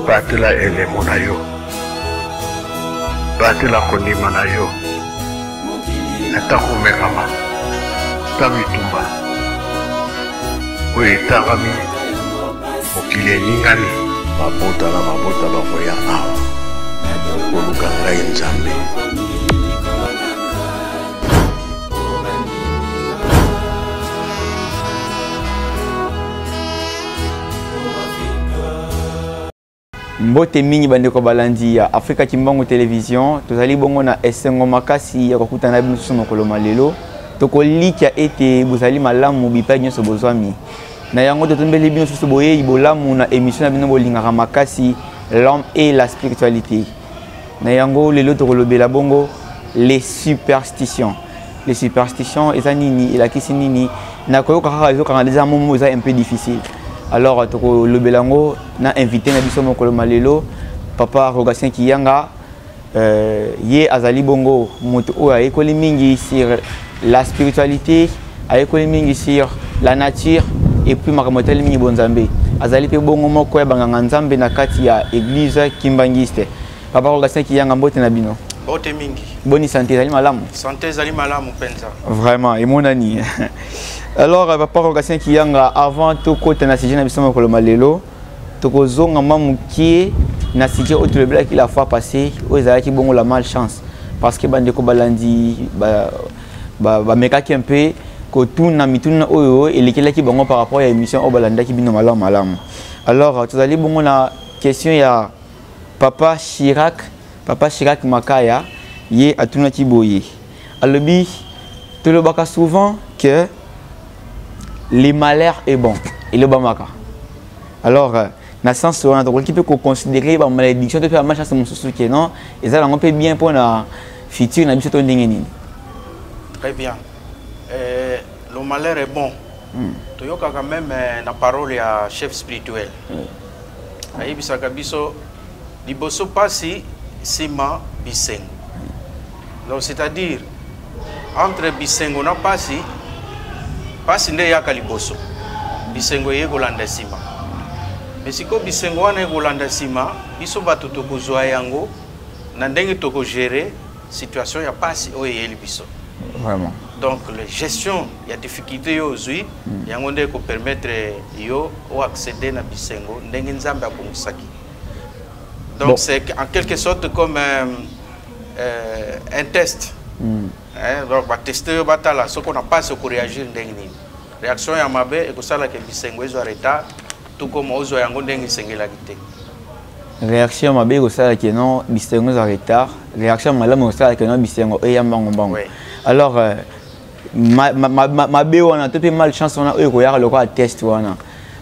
batela elemo na yo batela kondima na yo ata komekama ta bitumba oyo etangami mokili eningani mabota na mabota bakoya awa koluka ngai nzambe mbote mingi bandeko balandi ya afrika kimbangu television tozali bongo na esengo makasi ya kokutana na biso mokolo ma lelo tokolikya ete bozali malamu bipai nyonso bozwami na yango totombeli bino susu boyei bolamu na emission na bino bolingaka makasi l'homme et la spiritualité na yango lelo tokolobela bongo les superstitions les superstitions eza nini elakisi nini na koyoka kaka ezokanga eza momo eza un peu difficile alors tokolobela yango na invité na biso mokolo ma lelo papa rogatien kiyanga euh, ye azali bongo moto oyo ayekoli mingi sur la spiritualité ayekoli mingi sur la nature et puis makambo etali mingi bonzambe azali mpe bongo moko ya banganga nzambe na kati ya eglise kimbangiste papa rogatien kiyanga mbote na bino mbote mingi boni sante ezali malamu sante ezali malamu mpenza vraiment emonani alors papa rogatien kiyanga avant tokota na sujet na biso mokolo malelo tokozonga mwa mokie na sujet oyo tolobelaki la fois passé oyo ezalaki bongo la malchance parce que bandeko balandi ba, bamekaki ba mpe kotuna mituna oyo elekelaki bango par rapport ya émission oyo balandaki bino malamu malamu alors tozali bongo na question ya papa chirac papa chirac makaya ye atunaki boye alobi tolobaka souvent que le malheur est bon elobamaka alors euh, na sens wana tokoki mpe koconsidere bamalediction to mpe bamachance mosusu ke non eza yango mpe bien mpo na futur na biso to ndenge nini très bien euh, le malheur est bon hmm. toyokaka meme euh, na parole ya chef spirituel ayebisaka biso Liboso pasi, sima bisengo. Donc c'est-à-dire entre bisengo na pasi, pasi nde yaka liboso. Bisengo eye kolanda sima. Mais siko bisengo wana ekolanda sima, biso bato tokozwa yango na ndenge toko gérer situation ya pasi oyo eyeli biso. Vraiment. Donc la gestion ya difficulté yo ozwi mm. yango nde ko permettre yo o accéder na bisengo ndenge Nzambe abongisaki. Donc bon. c'est en quelque sorte comme euh, euh, un test. Mm. Hein, donc va tester yo batala ce qu'on a pas ce qu'on réagir ndenge nini. Réaction ya mabe et que ça la que bisengo ezo arrêta tout comme ozo yango ndenge sengela kité. Réaction mabe ko sala que non bisengo ezo retard. Réaction malamu ko sala que non bisengo eyamba ngombango. Oui. Alors euh, mabe wana to mpe mal chance wana oyo ekoyaka lokola test wana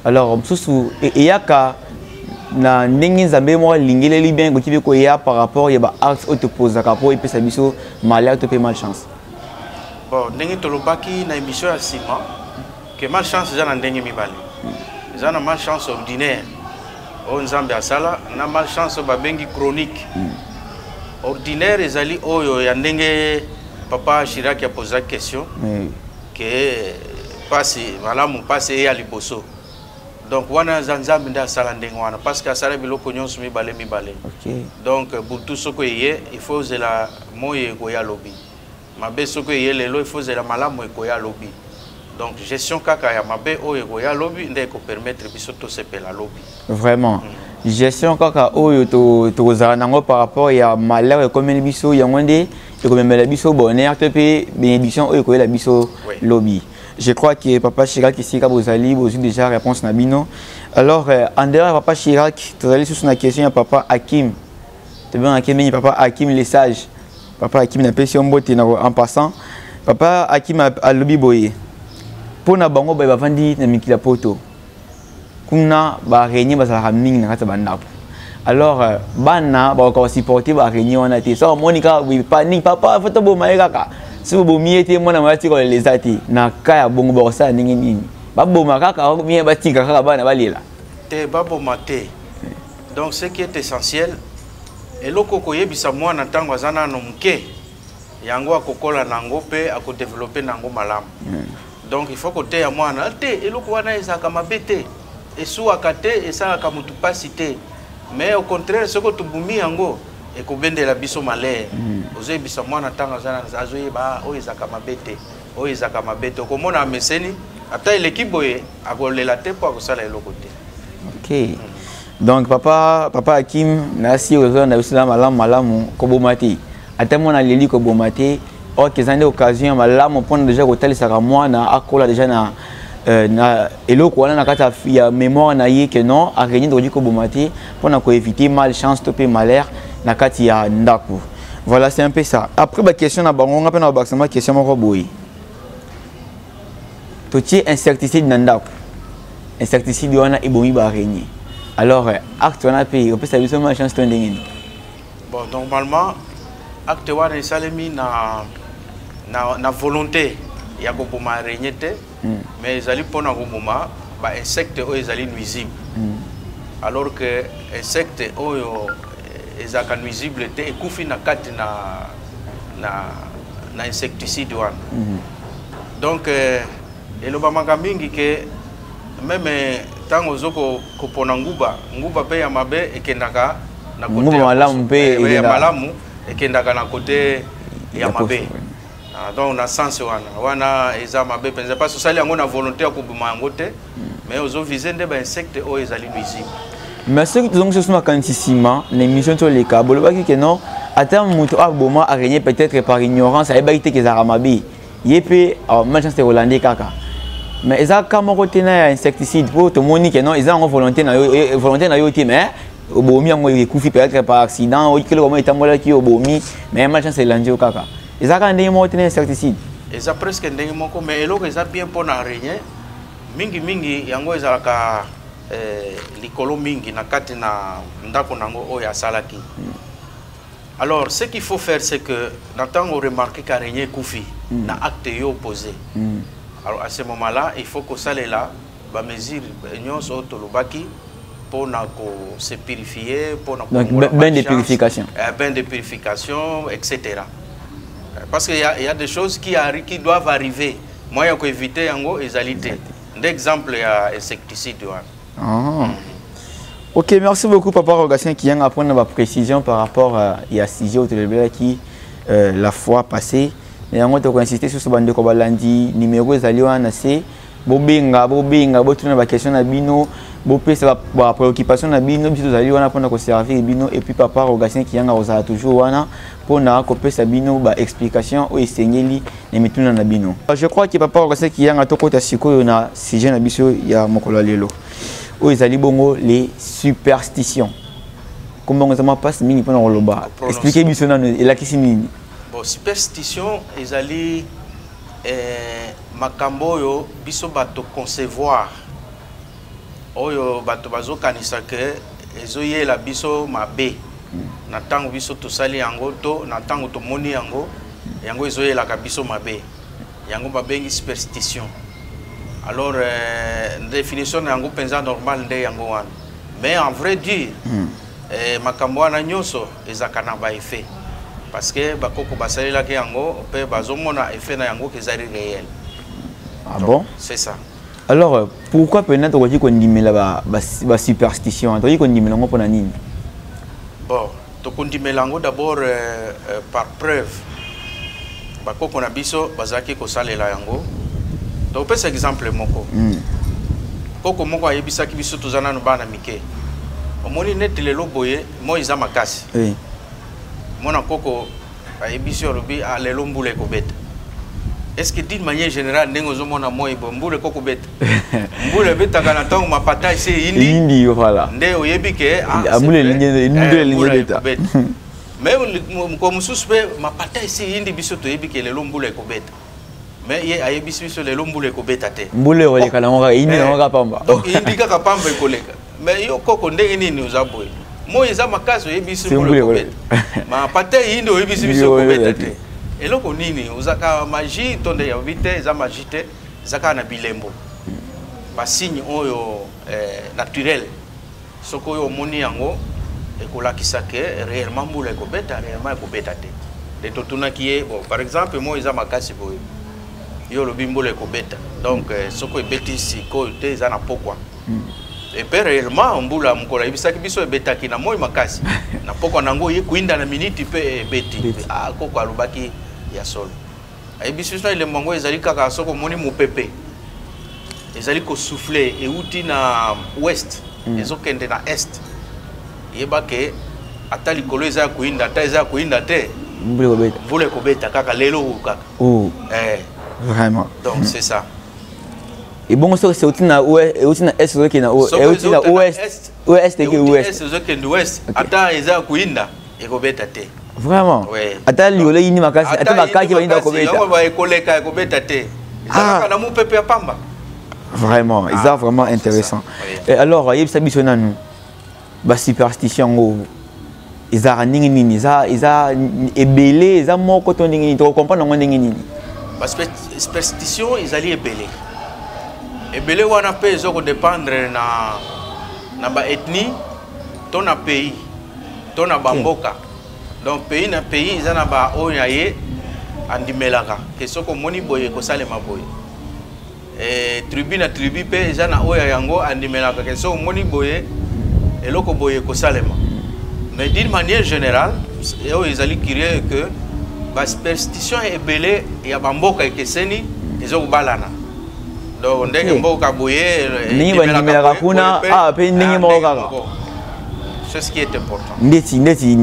alors mosusu e, eyaka na ndenge nzambe moko alingeleli bien ekoki mpe koya par rapport ya baacte oyo topozaka mpo epesa biso malheur to mpe mal chance bon ndenge tolobaki na émission ya nsima que malchance eza na ndenge mibale eza na malchance ordinaire oyo nzambe asala na malchance oyo babengi chronique hmm. ordinaire ezali oyo ya ndenge papa chirac aposa question hmm. ke mpasi malamu mpasi eya liboso donc wana aza nzambe nde asala ndenge wana parce que asala biloko nyonso mibale mibale donc butu soko eye il faut ozela moi ekoya lobi mabe soki eye lelo il faut zela malamu ekoya lobi donc gestion kaka ya mabe oyo ekoya lobi nde ekopermettre biso tosepela lobi vraiment mm. gestion kaka oyo tokozala to nango par rapport ya malheur ekomeli biso yango nde ekomemela biso bonheur to mpe bénédiction oyo ekoyela biso oui. lobi je crois que papa chirac esika bozali bozwi déjà réponse na bino alors euh, en dehors ya papa chirac tozali susu na question ya papa hakim tobengaki mingi papa hakim le sage papa akimi napesi yo mbote na en passant papa akimi alobi boye mpo na bango baye bavandi na mikili ya poto kuna baaraigne bazalaka mingi na kati ya bandako alors euh, bana bakoka basupporte baaraigne wana te so amoni kaka panique papa fo toboma ye kaka soki bobomi ye te mwana moya tika olela eza te na ka ya bongo bakosala ndenge nini baboma kaka batika kaka bana balela te baboma te Donc ce qui est essentiel eloko koyebisa mwana ntango aza nano moke yango akokola na yango mpe akodevelope na yango malamu hmm. donc il faut koteya mwana te eloko wana ezalaka mabe te esuwaka te esalaka motu mpasi te mais au contraire soki tobumi yango ekobendela biso malere hmm. ozoyebisa mwana ntango azoyeba ah, oyo ezalaka mabe te oyo ezalaka mabe te okomona ameseni ata eleki boye akolela te mpo akosala eloko te okay. donc papa papa akim nasi oza na biso eza malamu malamu koboma te ata mwana aleli koboma te orke eza nde occasion ya malamu mpona deja kotalisaka mwana akola deja na Euh, na eloko wana na kati ya mémoire na ye que non araignée tokoki koboma te mpo na koéviter mal chance to mpe malheur na kati ya ndako voilà c'est un peu ça après baquestion na bango nga mpe na babakisa mwa question moko boye totie insecticide na ndako insecticide wana ebomi baaraigne alors euh, acte wana mpe opesa biso ma chance to ndenge nini bon normalement acte wana esalemi na, na, na volonté ya koboma araigne te mm. mais ezali mpona koboma bainsecte oyo ezali nuisible mm. alors que insecte oyo euh, ezalaka nuisible te ekufi na kati na, na na insecticide wana mm -hmm. donc euh, elobamaka mingi ke meme ntango ozo kopona nguba nguba mpe ya mabe ekendaka na nguba malamu mpe eh, ya malamu ekendaka na kote ya mabe ah, donc na sens wana wana eza mabe mpenza mpasi osali yango na volonté ya koboma yango te mais ozo vise nde ba insecte oyo ezali nuisible mais soki tozongisi oso makanisi nsima na émission ti oleka bolobaki ke non ata moto aboma araigne peut-être par ignorance ayebaki te kezalaka mabe ye mpe euh, malchance te kolande kaka mais eza ka moko te na ya insecticide mpo tomoni ke non eza yango volonté na yo eh, volonté na yo te mais obomi yango ekufi peut-être par accident oyikeli koma etambolaki obomi mais malchance elandi yo kaka eza kaka ndenge moko te na insecticide eza presque ndenge moko mais eloko eza bien mpo na araigne mingi mingi yango ezalaka eh, likolo mingi na kati na ndako na yango oyo asalaki mm. alors ce qu'il faut faire c'est que na ntango remarke ka renie ekufi mm. na acte yo opposé mm. alors à ce moment là il faut kosalela bamesure nyonso oyo tolobaki mpo na kose purifie mpo na bain de purification eh, bain de purification etc parce qu'il y, y a des choses qui, qui doivent arriver moyen ya koevite yango ezali te nde exemple ya insecticide wana ah. Ok, merci beaucoup Papa Rogatien qui vient apprendre ma précision par rapport à, à sujet qui euh, la fois passée. Mais on a insisté sur ce bande de lundi, numéro ezali wana c'est bobenga bobenga botuna ba question na bino bopesa ba préoccupation na bino biso tozali wana mpona koservir bino et puis papa rogatien kiyanga kozala toujours wana mpo na kopesa bino ba explication oyo esengeli na mituna na bino je crois ke papa okase kiyanga tokota sikoyo na sujet na biso ya mokolo ya lelo oyo ezali bongo les superstition kombo yango eza mwa mpasi mingi mpo na koloba explike biso nano elakisi nini bon superstition ezali eh, makambo oyo biso bato concevoir oyo bato bazokanisa ke ezoyela biso mabe na ntango biso tosali yango to na ntango tomoni yango yango ezoyelaka biso mabe yango babengi superstition alors euh, définition na yango mpenza normal nde yango wana mais en vrai dire mm. eh, makambo wana nyonso ezalaka na baeffet parce que bakoko basalelaki yango mpe bazomona effet na yango kezali réel ah bon c'est ça alors euh, pourquoi mpena tokoki kondimela basuperstition ba, ba tokoki kondimela yango mpona nini bon tokondimela yango d'abord euh, euh, par preuve bakoko na biso bazalaki kosalela yango tokopesa exemple moko mm. koko moko ayebisaki biso toza nano bana mike omoni neti lelo boye moi eza makasi oui. mwana koko ayebisi yo alobi ah, lelo mbula ekobeta est-ce que d'une manière générale ndenge ozomona moi bo mbula eko kobeta mbula ebetaka na ntango mapata ese eyindi voilà nde oyebi ke ah, ah, mbula elingi eh, ebeta mais mokolo mosusu mpe mapata ese eyindi biso toyebi ke lelo mbula ekobeta mais ye ayebisi biso lelo mbula ekobeta te mbula ekoleka nango kaka eyindi nango kaka pamba donc eyindi kaka pamba ekoleka mais yo koko ndenge nini oza boye moi eza makasi oyebisi mbula ekobeta ma pate eyindi oyebisi biso ekobeta te eloko nini oza kaka magie to nde yabi te eza magie te eza kaka na bilembo basigne oyo eh, naturel soki oyo omoni yango ekolakisa ke réellement mbula ekobeta réellement ekobeta te nde totunaki ye bon par exemple moi eza makasi boye yo olobi mbula ekobeta donc euh, soki ebeti sikoyo te eza na pokwa hmm. epe réellement mbula mokolo ayebisaki biso ebetaki na moi makasi na pokwa na yango ye kuinda na miniti mpe ebeti ah, koko alobaki ya solo ayebisi biso na elembo yango ezali kaka soki omoni mopepe ezali kosouffle euti na ouest mm. ezokende na est yeba ke ata likolo eza ya koyinda ata eza ya koyinda te mvula ekobeta kaka lelo oyo kaka oh. eh. vraiment donc c'est ça ebongo soki euti na euti na est ozokende na euti na ouest ouest eke ouest ozokende ouest ata eza ya koyinda ekobeta te vraiment ata liole yini makasi ata bakaki bayini bakobeta ekoleka ekobeta te ezalaka ah. na mopepe ya pamba vraiment ah, eza vraiment intéressant alors yebisa biso nanu basuperstition yango ezalaka ndenge nini eza eza ebele eza moko to ndenge nini tokokomprendre yango ndenge nini basuperstition ezali ebele ebele wana mpe ezo kodépendre na na baethnie to na pays to na bamboka donc pays na pays eza na baoyo na ye andimelaka ke soki omoni boye ekosalema boye e, tribu na tribu mpe eza na oyo yango andimelaka ke soki omoni boye eloko boye ekosalema mais d'une manière générale oyo ezali curieux que basuperstition ebele ya bamboka ekeseni ezo kobalana donc ndenge mboka boye ndenge bandimelaka kuna awa mpe ndenge moko kaka sur ce qui est important ndeti ndeti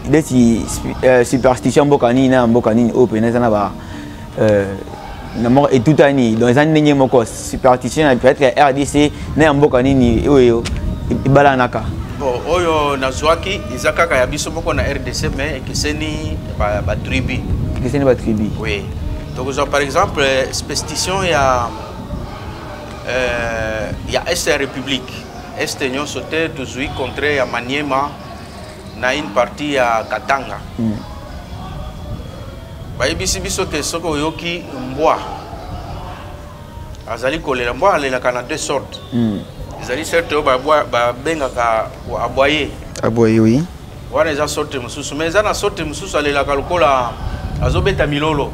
ndeti euh, superstition mboka nini na mboka nini oyo mpena eza na ba euh, na moko etutani donc eza ndenge moko superstition ya peut-être ya rdc na ya mboka nini oyo ebalanaka bon oyo nazwaki eza kaka ya biso moko na rdc mais ekeseni batribu ekeseni batribu oui tokozwa par exemple superstition ya euh, ya est ya république Este nyonso te tozwi contre ya Maniema na une partie ya Katanga. Mm. Bayebisi biso ke soki oyoki mbwa azali kolela mbwa alelaka na deux sortes. Mm. Ezali certes oyo babengaka aboye. Aboye oui. wana eza sorte mosusu mais eza na sorte mosusu alelaka lokola azobeta milolo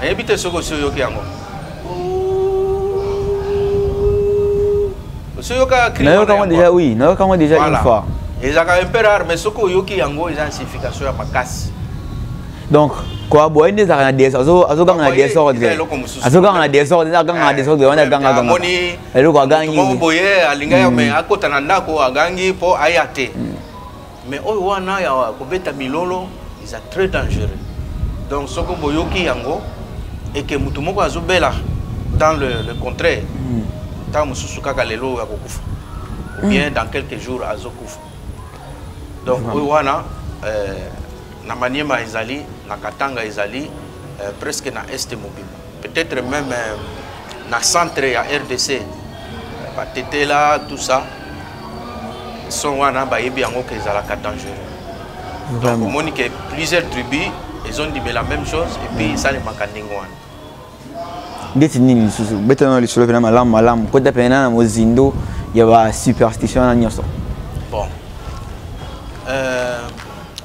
nayebi te soki osi oyoki yango osi oyokayango deja oui nayoka yango deja une fois ezalaka un peu rare mais soki oyoki yango eza signification ya makasi donc koaboye nde ezalaka na desordre azoganga na desordre azoganga na desordre azoganga na desordre wana agangaganga eloko agangi moko boye alinga ya me akota na ndako agangi mpo aya te mais oyo wana ya kobeta milolo eza très dangereux donc soki boyoki yango eke motu moko azobela dans le, le contraire ntango mosusu kaka lelo oyo akokufa ou bien dans quelques jours azokufa donc oyo wana euh, na maniema ezali na katanga ezali euh, presque na este mobimba peut-être même euh, na centre ya rdc batetela tout ça son wana bayebi yango ke ezalaka dangereux donc omoni ke plusieurs tribus ezondimela même chose epuis esalemaka mm. ndenge wana ndeti nini lisusu betana lisolo mpena malamu malamu kota mpena na mozindo ya basuperstition wana nyonso bon euh,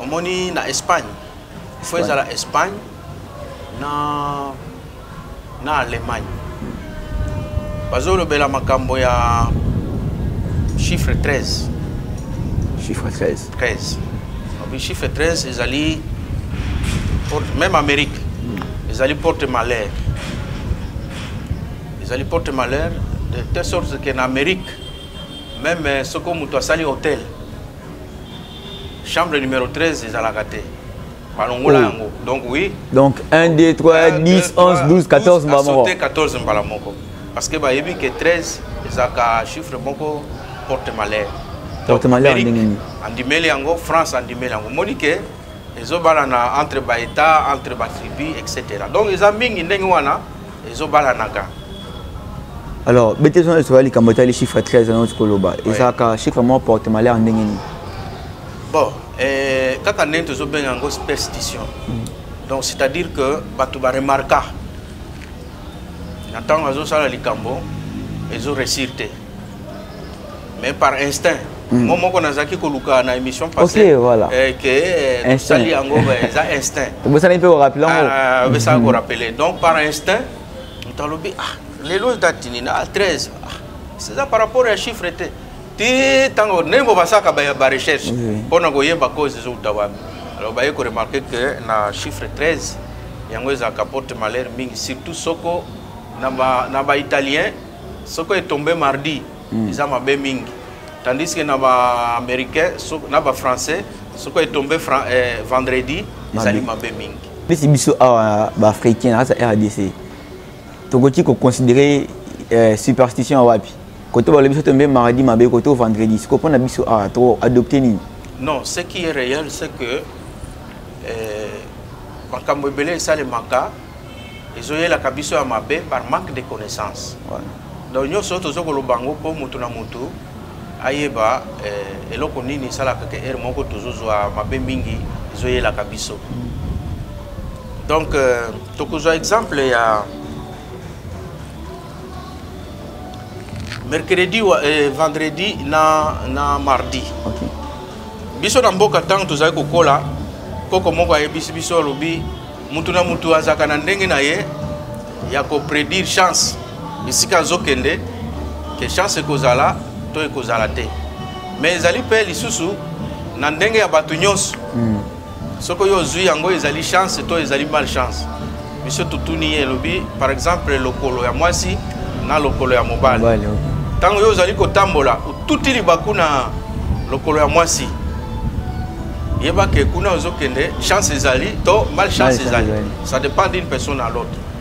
omoni na espagne fo ezala espagne na, na Allemagne bazolobela makambo ya chiffre 13 chiffre 13 13 donc chiffre 13 ezali porte, même amérique hmm. ezali porte malheur ezali porte malheur de telle sorte que na amérique même euh, soko moto asali hôtel chambre numéro 13 ezalaka te balongola oh. yango donc oui donc 1 2 3 10 11 12 14 mbala moko 14 mbala moko parce que bayebi ke 13 ezalaka chiffre moko porte malheur porte malheur ndenge nini andimeli yango france andimeli yango omoni ke ezobalana entre baétat entre batribu etc donc eza mingi ndenge wana ezobalanaka alors bete zona esoka likambo etali chiffre 13 yango tokoloba ezalaka chiffre moko porte malheur ndenge nini bon eh, kaka ndenge tozobenga yango superstition mm. donc c'est à dire que bato baremarka na ntango azosala likambo ezo réussir te mais par instinct mm. mo moko nazalaki koluka na émission passé voilà. eh, ke eh, tosali yango eza instinct obosani mpe korapele yango ah, obesaka mm-hmm. korapele donc par instinct moto alobi ah lelo dati nini ah 13 ah, c'est ça par rapport ya chiffre te ti ntango ndenge mpo basalaka barecherche mpo na koyeba cause ezouta wapi alors baye koremarke ke na chiffre 13 yango ezalaka porte malheur mingi surtout soko na baitalien soko etombe mardi hmm. eza mabe mingi tandis que na baaméricain na bafrançais soko etombe eh, vendredi ezali mabe mingi neti biso awa baafricain na kati ya rdc tokoki koconsidere eh, superstition wapi koto balobi biso tombe mardi mabe koto vendredi siko mpo na biso awa ah, to adopte nini non ce qui est réel c'est que eh, makambo ebele esalemaka ezoyelaka biso ya mabe par manque de connaissance donc nyonso oyo toza koloba yango mpo motu na motu ayeba eh, eloko nini esalaka ke ere moko tozozwa mabe mingi ezoyelaka biso donc eh, tokozwa exemple ya mercredi wa, eh, vendredi na, na mardi okay. biso na mboka ntango tozali kokola koko moko ayebisi biso alobi motu na motu azalaka na ndenge na ye ya kopredire chance bisika azokende ke chance ekozala to ekozala te mais ezali mpe lisusu na ndenge ya bato nyonso mm. soki oyo ozwi yango ezali chance to ezali mal chance biso totuni ye elobi par exemple lokolo ya mwasi na lokolo ya mobali ntango yo ozali kotambola otuti libaku na lokolo ya mwasi yeba ke kuna ozokende chance ezali to mal chance ezali ça dépend d'une personne à l'autre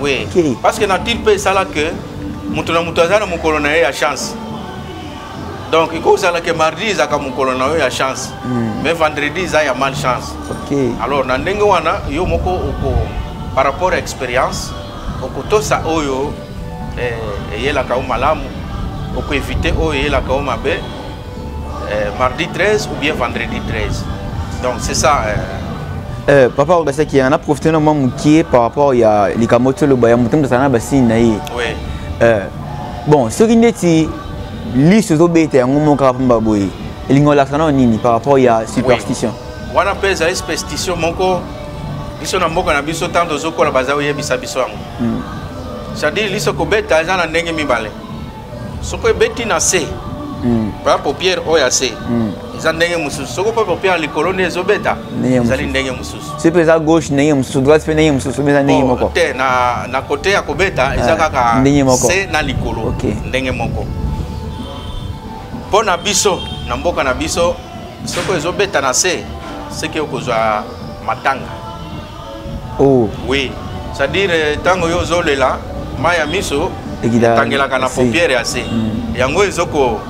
oui okay. parce que nature mpe esala que moto na moto aza na mokolo na ye ya chance donc ekozala ke mardi ezalaka mokolo na yo ya chance mm. mais vendredi eza ya mal chance okay. alors na ndenge wana yo moko oko par rapport ya expérience okotosa oyo eh, eyelaka yo malamu okoevite oyo eyelaka yo mabe Euh, mardi 13 ou bien vendredi 13. Donc c'est ça. Euh... Euh, papa obasaki yango na profite na mwa mokie par rapport ya likambo toloba ya moto moto azala na basini na ye oui. euh, bon soki ndeti liso ezobeta yango moko kaka mpamba boye elingi olakisa nao nini par rapport ya superstition oui. wana mpe ezali superstition moko biso na mboka na biso ntango tozokola baza koyebisa biso yango hmm. c'est-à-dire liso kobeta eza na ndenge mibale soko ebeti na se hmm. par exemple pierre oyo ase hmm. eza ndenge mosusu soko mpe pierre likolo nde ezobeta ezali ndenge mosusu soki mpe eza gauche ndenge mosusu droite mpe ndenge mosusu eza ndenge moko te na kote ya kobeta ah, eza kaka ndenge moko se na likolo ndenge moko mpo na biso na mboka na biso soko ezobeta na se seke okozwa matanga oh. oui c'est-à-dire euh, ntango yo ozolela mai ya miso etangelaka na paupiere ya se mm. yango ezoko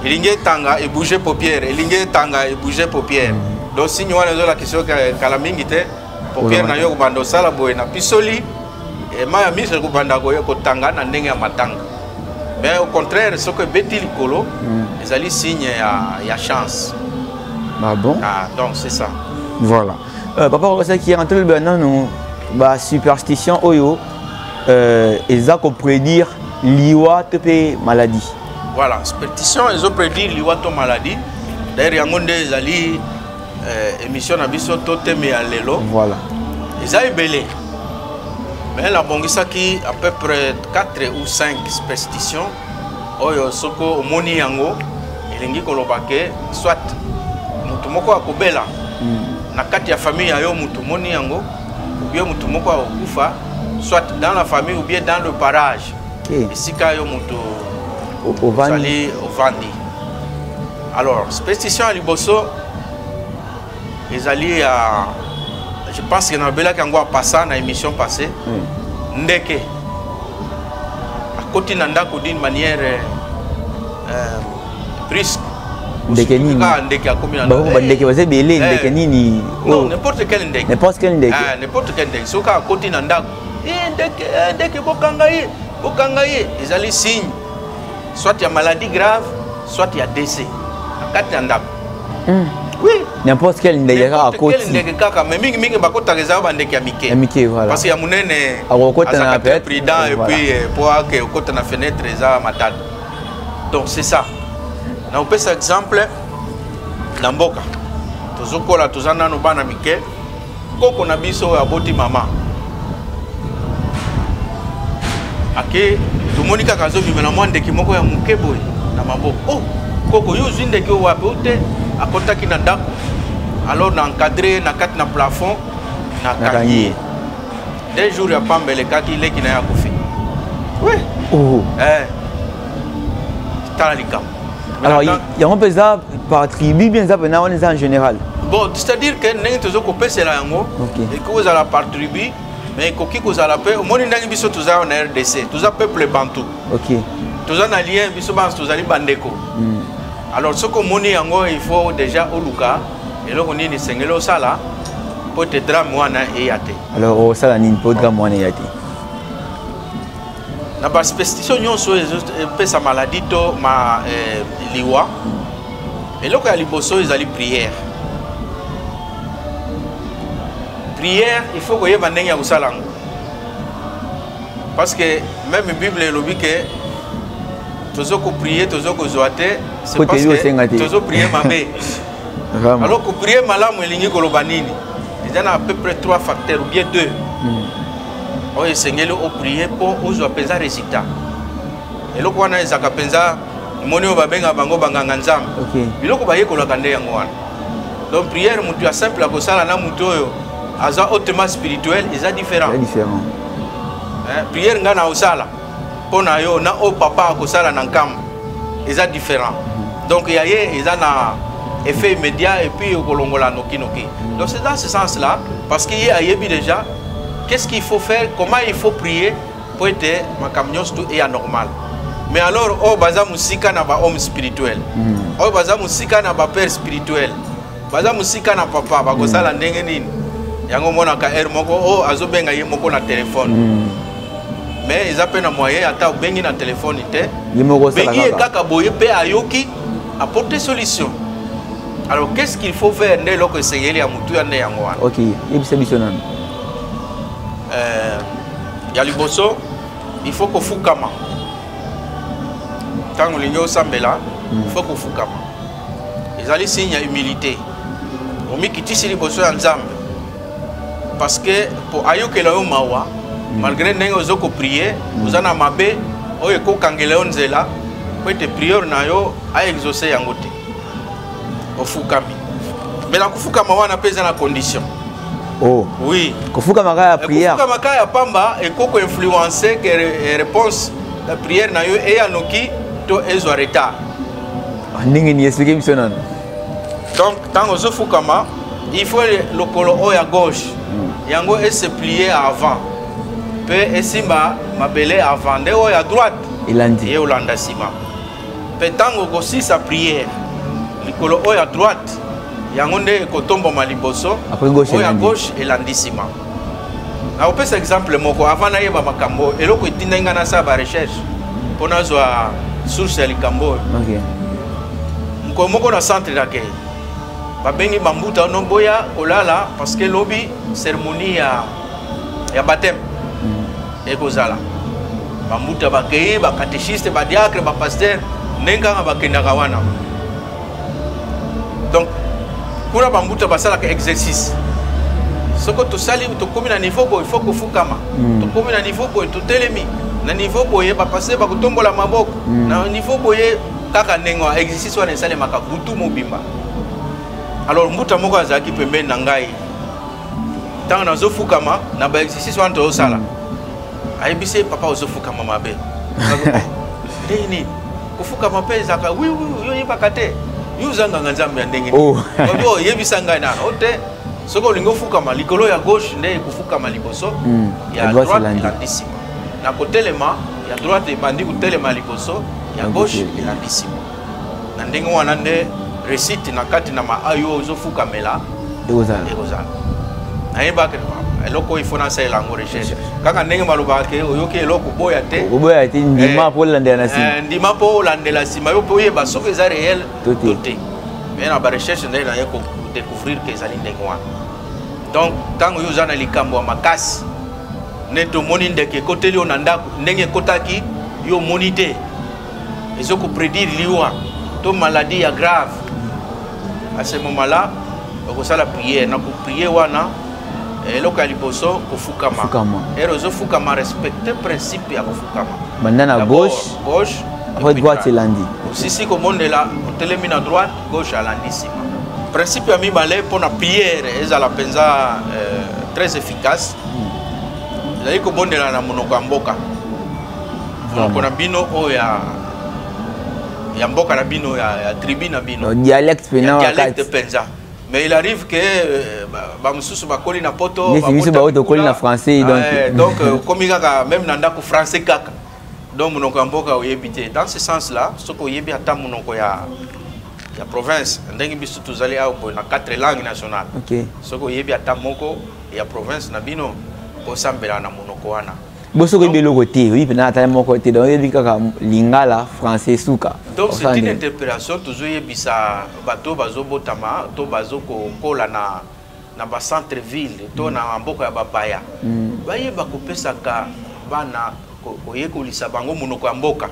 elingi etanga ebouge paupiere elingi etanga ebouge paupiere mm. donc signe wana ezolakisa yo kala mingi te paupiere na yo ekobanda osala boye na pisoli eh, mai ya miso ekobanda kotanga na ndenge ya matanga mais au contraire soki ebeti likolo mm. ezali signe ya, ya chance ah bon ah, donc c'est ça voilà Euh, papa okosaki yango tolobela nanu basuperstition oyo euh, eza koprédire liwa to mpe maladie voilà superstition ezo prédire liwa to maladie d'ailleurs yango nde ezali euh, émission na biso to teme ya lelo voilà eza ebele mais nabongisaki à peu près 4 ou 5 superstitions oyo soko omoni yango elingi koloba ke soit moto moko akobela hmm. na kati ya famille ya yo moto omoni yango obie moto moko akokufa soit dans la famille ou bien dans le parage esika yo moto ozali ovandi alors spécition ya liboso ezali ya je pense que nalobelaki yango apassa na émission passé hmm. ndeke akoti na ndako d'une manière euh, brusque ndeke nini ah, ndeke akomi na ba ndeke baza ebele eh. ndeke nini non oh. n'importe quel ndeke n'importe quel ndeke ah n'importe quel ndeke soki akoti na ndako eh ndeke eh, ndeke bokanga ye bokanga ye ezali signe soit ya maladie grave soit ya décès na kati ya ndako hmm. oui n'importe quel ndeke kaka akoti quel ndeke kaka mais mingi mingi bakotaka eza ba ndeke ya mike ya mike voilà parce que ya munene akokota na peut prudent et puis euh, pour que okota na fenêtre eza matata donc c'est ça na opesa exemple na mboka tozokola toza nanu bana mike koko na biso oyo aboti mama ake tomoni kaka azobimela mwa ndeki moko ya moke boye na maboko oh, koko yo ozwi ndeki oyo wapi ote akotaki na ndako alors na encadre na kati na plafond na kangi ye de jour ya pamba elekaki leki na ye akufi oui. oh. eh. tala likambo alors yango mpe eza par tribu bien eza mpena wana eza en général bon c'est-à-dire que ndenge tozo kopesela yango ekoki kozala par tribu mais ekoki kozala mpe omoni ndenge biso toza na rdc toza peuple bantou okay. toza na lien biso banso tozali bandeko mm. alors soki omoni yango il faut déjà oluka eloko nini esengeli osala mpo te drame wana eya te alors osala nini mpo drame wana eya te na basuperstition nyonso epesa maladi to ma, eh, liwa eloko ya liboso ezali priere priere il faut koyeba ndenge ya kosala yango parce que même bible elobi ke tozo koprie tozo kozwa te c'est parce que tozo prie mabe alors koprie malamu elingi koloba nini eza na à peu près trois facteurs ou bien deux mm. oyo esengeli oprie mpo ozwa mpenza resultat eloko wana ezalaka mpenza moni oyo babengaka bango banganga nzambe okay. biloko bayekolaka nde yango wana donc prière motu ya simple akosala na motu oyo aza hautement spirituel eza différent eh, prière ngai na osala mpo na yo na oyo papa akosala na nkambo eza différent donc ya ye eza na effet immédiat et puis okolongola nokinoki donc c'est dans ce sens là parce que ye ayebi déjà qu'est ce qu'il faut faire comment il faut prier mpo ete makambo nyonso tu eya normal mais alors oyo baza mosika na bahomme spirituel hmm. oyo baza mosika na bapère spirituel baza mosika na papa bakosala mm. ndenge nini yango omonaka heure moko o oh, azobenga ye moko na telefone mm. mais eza mpe na moyen ata obengi na telefone te bengi ye kaka boye mpe ayoki aporte solution alors qu'est ce qu'il faut faire nde eloko esengeli ya motu ya nde yango wana ok yebisa biso nanu euh, ya liboso il faut kofukama ntango olingi osambela mm. il faut kofukama ezali signe ya humilité omikitisi liboso ya nzambe parce que mpo ayokela yo mawa mm. malgré ndenge ozo koprie mm. oza na mabe oyo ekokangela yo nzela mpo ete priere na yo aexauce yango te ofukami me na kofukama wana mpe eza na condition oh. oui kofukama kaka ya priere kofukama kaka ya pamba ekoko influence ke réponse ya priere na yo eya noki to ezwa retard ndenge ni explike biso nano donc ntango ozofukama il faut lokolo oyo ya gauche hmm. yango ese plie avant mpe esimba mabele avant nde oyo ya droite elandi ye olanda nsima mpe ntango okosisa priere likolo oyo ya droite yango nde ekotomboma liboso oyo ya gauche elandi nsima nakopesa exemple moko avant nayeba makambo oyo eloko etindaki ngai nasala barecherche mpo nazwa source ya likambo oyo mokolo moko na centre d'accueil babengi bambuta no boya kolala parce que lobi cérémonie ya, ya baptême mm. ekozala bambuta bakei bacatechiste badiacre bapaster ndenge kaka bakendaka wana donc kuna bambuta basalaka exercice soko tosali tokomi na niveau boye fo kofukama mm. tokomi na niveau boye totelemi na niveau boye bapase bakotombola maboko mm. na niveau boye kaka ndenge wana exercice wana esalemaka butu mobimba alors mbuta moko azalaki pembeni na ngai ntango nazofukama na baexercice wana tozosala mm. ayebisi papa ozofukama mabe nini kofukama mpe ezalaka wi wi yo oyebaka te yo oza nganga nzambe ya ndenge oh. nini oyebisa ngai nana o te soki olingi ofukama likolo ya gauche nde ekofukama liboso hmm. ya droite elandi nsima na kotelema ya droite ebandi kotelema liboso ya gauche elandi nsima na ndenge wana nde resite na kati na maayo ozofukamela ekozala ekozala nayebaka eloko oyo ifo nasalela yango recherche kaka ndenge balobaka ke oyoki eloko oboya te oboya te ndima eh, mpo olandela na nsima eh, ndima mpo olandela nsima yo mpe oyeba soki eza réel to te me na barecherche nde naye kodécouvrir ke ezali ndenge wana donc ntango yo oza na likambo ya makasi nde tomoni ndeke ekoteli yo na ndako ndenge ekotaki yo omoni te ezo ko prédire liwa to maladie ya grave à ce moment là okosala prière na koprier wana eloko ya liboso kofukama ere ozofukama respecte principe ya kofukama banda na gauche gauche après droite elandi osisi komonela otelemi na droite gauche alandi nsima principe ya mibale mpo na priere ezala mpenza euh, très efficace hmm. ezali kobondela na monoko ya mboka monoko na bino oyo ya ya mboka na bino ya, ya tribu na bino no, dialecte pena dialecte penza mais il arrive que euh, bamosusu bakoli na poto biso baoyo tokoli na français ah, donc eh, donc euh, okomi kaka même na ndako français kaka donc monoko ya mboka oyebi te dans ce sens là soki oyebi ata monoko ya ya province ndenge biso tozali awa boye na quatre langue nationale okay. soki oyebi ata moko ya province na bino kosambela na monoko wana boso oyebi eloko te oyebi mpena ata moko te donc oyebi kaka lingala français suka donc c'est une interpellation tozoyebisa bato bazobotama to bazokokola na na bacentre ville to mm. na mboka ya bapaya mm. bayeba kopesaka bana koyekolisa bango monoko ya mboka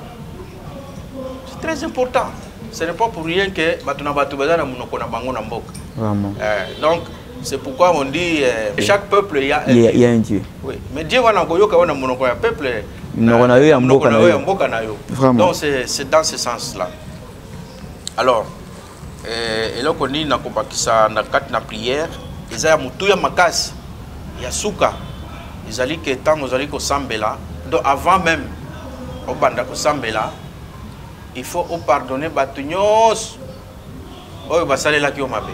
c'est très important ce n'est pas pour rien que bato na bato baza na monoko na bango na mboka euh, donc C'est pourquoi on dit euh, chaque peuple il y a un, y a un Dieu. Oui, mais Dieu wana koyoka wana monoko ya peuple. Monoko na yo ya mboka na yo. Ya mboka na yo. Vraiment. Donc c'est c'est dans ce sens là. Alors euh eloko nini na kobakisa na kati na prière eza ya mutu ya makasi ya suka ezali ke ntango ozali kosambela donc avant même obanda kosambela il faut opardonne bato nyonso oyo basalelaki yo mabe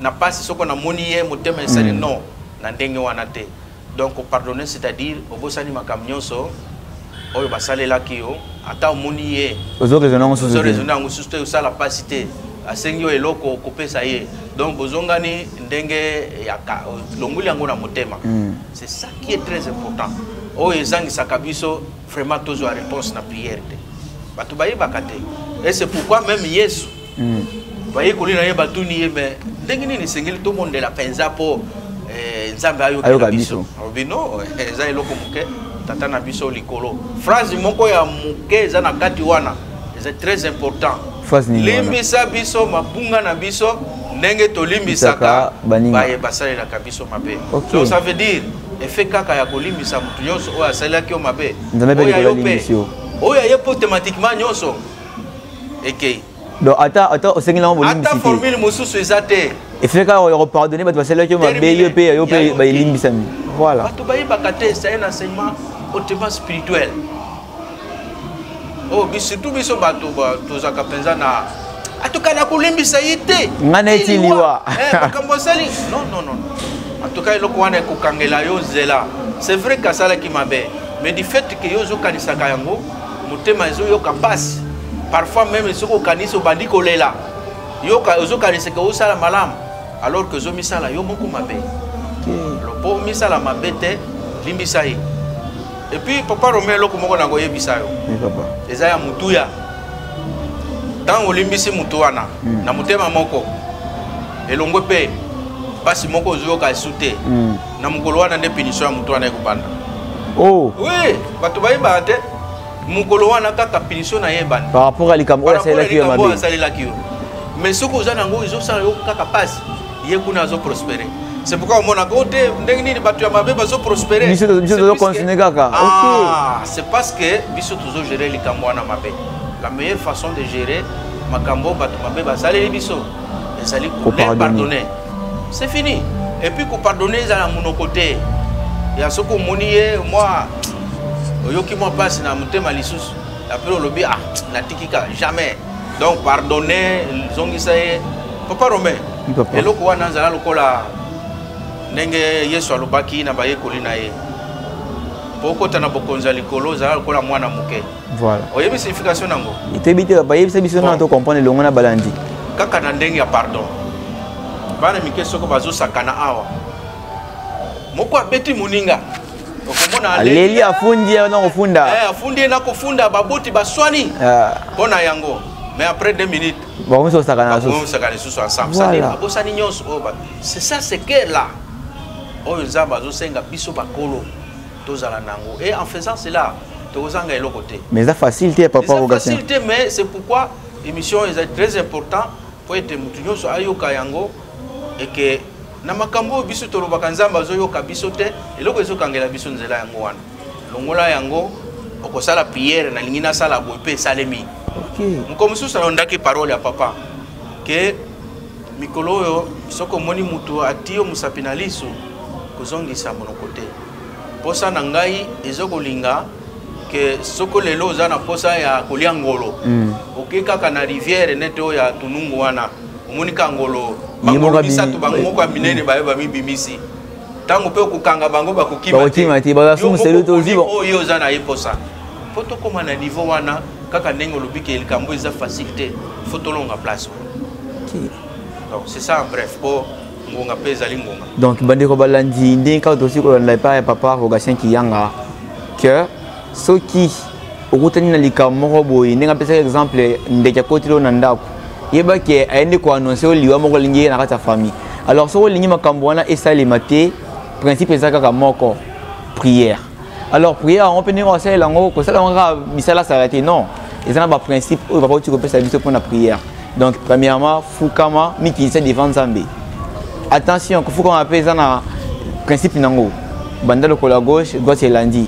na pasi soko na moni ye motema esali mm. non na ndenge wana te donc pardonner c'est à dire obosani makambo nyonso oyo basalelaki yo ata omoni ye ozoraisonne yango susu te osala mpasi te asengi yo eloko kopesa ye donc bozongani ndenge ya longoli yango na motema mm. c'est ça qui est très important oyo ezangisaka biso vraiment tozwa réponse na prière te bato bayebaka te et c'est pourquoi même yesu mm. bayekoli na ye batuni ye me ndenge nini esengeli tobondela mpenza mpo eh, nzambe ayokela biso alobi no eh, eza eloko moke tata na biso likolo phrase moko ya moke eza na kati wana eza très important limbisa biso mabunga na biso ndenge tolimbisaka baye basalelaka biso mabe okay. donc ça veut dire efe kaka ya kolimbisa moto nyonso oyo asalelaki yo mabe oyo aye mpo automatiquement nyonso ekei donc ata ata osengi nango bolimbisi te ata formule mosusu eza te efele kaka ya kopardonne bato basalelaki yo mabe yo mpe yo mpe bayelimbisami voilà bato bayebaka te eza un enseignement hautement spirituel oh, surtout biso bato tozalaka mpenza na atuka na kolimbisa ye te ngai neti liwa eh, makambo asali non non non atuka eloko wana ekokangela yo nzela c'est vrai kasalaki mabe mais du fait ke yo ozokanisaka yango motema ezoyoka mpasi parfois meme soki okanisi obandi kolela yoka ozokanisa ke osala malamu alors que ozomisala yo moko mabe mpo omisala mabe te limbisa ye epuis papa rome eloko moko na koyebisa yo eza ya motuya ntango olimbisi motu wana hmm. na motema moko elongwe mpe mpasi moko ozoyoka esu te hmm. na mokolo wana nde punition ya moto wana ekobanda oh. oui bato bayebaka te mokolo wana kaka punition na ye ebanda par rapport ya likambo oyo asalelaki yo mabe asalelaki yo mais soki oza nango ezosala yo kaka pasi ye kuna azoprospere c'est pourquoi omonaka o te ndenge nini bato ya mabe bazoprospere biso tozocontinue kaka ah, c'est parce que biso tozogere likambo wana mabe la meilleure façon de gérer makambo bato mabe basaleli biso ezali kopardonner c'est fini et puis ko pardonner ezala monoko te ya soki omoni ye mwa oyoki mwa mpasi na motema lisusu apres olobi ah natiki kaka jamais donc pardonne zongisa ye papa romain eloko wana azala lokola ndenge yesu alobaki na bayekoli na ye mpo okota na bokonzi ya likolo ozala lokola mwana moke voilà oyebi signification nango toyebi te papa yebisa biso nana to comprendre elongo na balandi kaka na ndenge ya pardon bana mike soko bazosakana awa moko abeti moninga okomona aleli afundi ye nakofunda eh, afundi ye nakofunda baboti baswani ah. mpo na yango mais après deux minutes bakomisi kosakana kosakana lisusu ensemble cest babosani nyonso oyo oh, c'est ça c'est que là oyo nzambe azosenga biso bakolo tozala nango et en faisant cela tokozanga eloko te mais eza facile te papa rogatien facile te mais c'est pourquoi émission est très important mpo ete motu nyonso ayoka yango et que na makambo oyo biso tolobaka nzambe azoyoka biso te eloko ezokangela biso nzela yango wana longola yango okosala priere nalingi nasala boye mpe esalemi moko mosusu alondaki parole ya papa ke mikolo oyo soki omoni moto atiyo mosapi na liso kozongisa monoko te posa na ngai ezokolinga ke soko lelo oza na posa ya kolia ngolo mm. oke kaka na rivière nete oyo ya tunungu wana omoni ka ngolo bangolo misato bango moko ya minene baye bamibimisi ntango mpe okokanga bango bakokima te oyo oza na ye posa mpo tokóma na niveau wana kaka ndenge olobi ke likambo eza facile te fo tolonga place wana donc c'est ça en bref mpo ngonga mpe ezali ngonga donc bandeko balandi ndenge kaka tosi kolanda epai ya papa rogatien kiyanga que soki okutani na likambo moko boye ndenge apesaki exemple ndeke akoteli oyo na ndako yeba ke aye nde koannonce oyo liwa moko alingi ye na kati ya famille alors soki olingi makambo wana esalema te principe eza kaka moko prière alors prière yango mpe ndenge osalela yango kosala yango kaka misala asala te non eza na baprincipe oyo papa oti kopesa biso mpo na prière donc premièrement fukama mikitisa devant nzambe attention kofukama mpe eza na principe nango banda lokola gauche droite elandi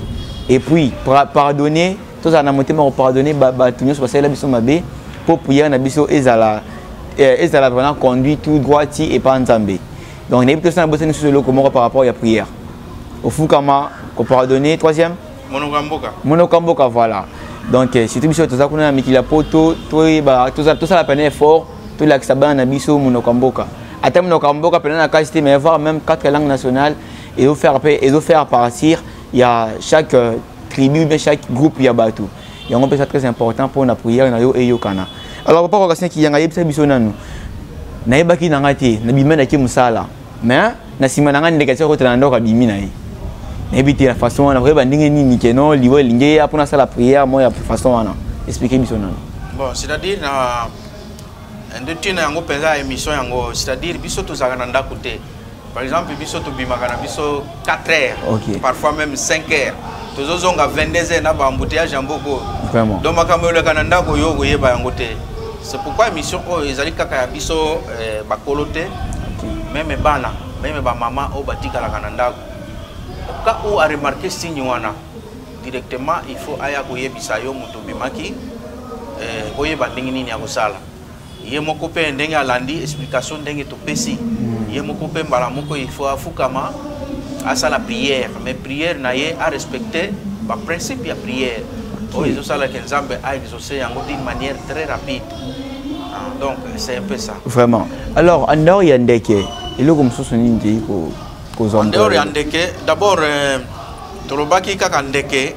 et puis pardonner tozala na motema ya kopardonne bato nyonso basalela biso mabe mpo prière na biso ezala eh, ezala vraiment conduit tout droit ti epa nzambe donc nayebi tosala bosani susu eloko moko par rapport ya prière ofukama ko pardonner troisième monoko ya mboka monoko ya mboka voilà donc eh, surtout biso toza kuna na mikili ya poto toyeba tosala pene effort tolakisa bana na biso monoko ya mboka ata monoko ya mboka pene na kasi te mais voir même quatre langues nationales ezofaire mpe ezofaire partir ya chaque euh, tribu bien chaque groupe ya bato yango mpe eza très important mpo na prière na yo eyokana alors papa kokasina kiyanga yebisa biso nanu nayebaki na ngai te nabimendaki mosala mais na sima na nga ndeke tia kotela na ndoko abimi na ye nayebi te na façon wana koyeba ndenge nini ke no liwa elingi eya mpona asala prière mo ya façon wana explike biso nano bon c'est-à-dire na nde ntina yango mpenza ya émission yango c'est-à-dire biso tozalaka na ndako te par exemple biso tobimaka na biso 4 heures okay. parfois même 5 heures tozozonga 22 heures na baembouteillage ya mboka oyo donc makambo eleka na ndako yo okoyeba yango te c'est pourquoi émission oyo ezali kaka ya biso eh, bakolo te meme bana meme bamama oyo batikalaka na ndako ka oyo aremarke signe wana directement il faut aya koyebisa yo moto obimaki eh, oyeba ndenge nini ya kosala ye moko mpe ndenge alandi explication ndenge topesi ye moko mpe mbala moko il faut afukama asala prière mais prière na ye arespecte baprincipe ya prière oyo ezosalaka nzambe aexauce yango d'une manière très rapide ah, donc c'est un peu ça vraiment alors en dehors ya ndeke eloko mosusu nini tei kozwa en dehors ya ndeke d'abord euh, tolobaki kaka ndeke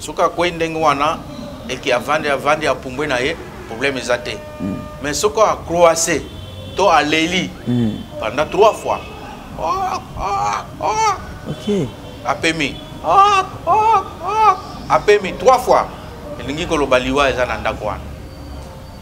soki akwei ndenge wana eke avandi avandi apumbwe na ye problème eza te mm. mais soki acroise to aleli mm. pendant trois fois oh, oh, oh. Okay. apemi oh, oh, oh. apemi trois fois elingi koloba liwa eza na ndako wana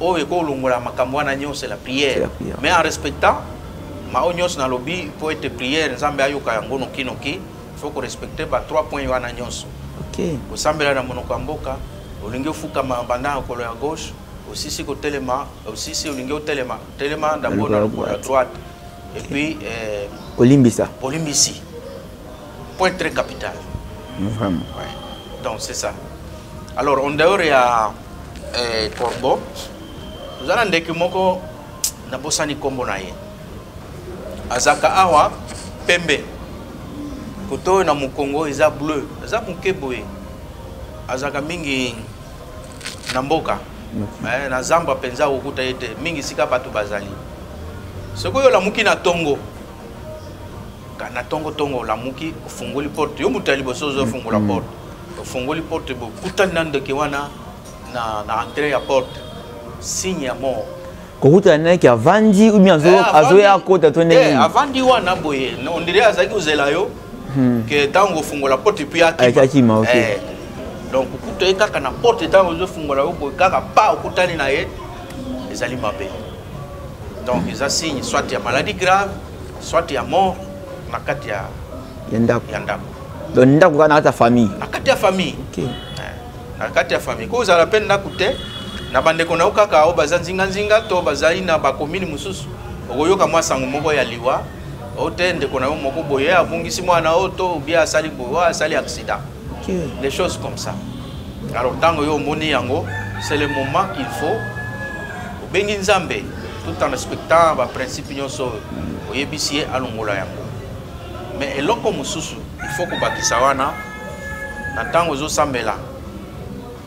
oyo ekolongola makambo wana nyonso la prière mais en respectant maoyo nyonso nalobi mpo ete prière nzambe ayoka yango nokinoki fo korespecte ba trois points wana nyonso kosambela na monoko ya mboka olingi ofukama banda ya kolo ya gauche osisi kotelema osisi olingi otelema telema ndambo na lokolo ya droite et puis eh, kolimbisa kolimbisi point très capital vraiment ouais. donc c'est ça alors en dehors ya eh, corbeau oza na ndeke moko nabosani nkombo na ye azaka awa pembe koto oyo na mokongo eza bleu aza moke boye azalaka mingi na mboka eh, na zamba mpenza kokuta ye te mingi esika bato bazali soki oyo olamuki na ntongo na tongo tongo olamuki ofungoli porte yo moto ya liboso ozofungola mm, mm. porte ofungoli porte bokutani na ndoki wana na, na entrée ya porte signe ya mort kokutana na yeke avandi ubien eh, azoya akota to ndenge eh, avandi wana boye ondire azalaki kozela yo hmm. ke ntango ofungola porte epuis akima ah, eh, donc okuta ye kaka na porte ntango ozofungola yo boye kaka pa okutani na ye ezali mabe donc eza signe soit ya maladie grave soit ya mort na kati ya ya ndako ya ndako donc ndako kaka na kati ya famille na kati ya famille okay. Eh, na kati ya famille ko ozala mpe ndako te na bandeko na yo kaka oyo baza nzinganzinga to bazali na bakomini mosusu okoyoka mwa sango moko ya liwa o te ndeko na yo moko boye abungisi mwana oyo to obie asali boye asali accident okay. des choses comme ça alors ntango yo omoni yango c'est le moment qu'il faut bengi nzambe tout en respectant baprincipe nyonso oyo oyebisi ye alongola yango me eloko mosusu ifo kobakisa wana na ntango ozosambela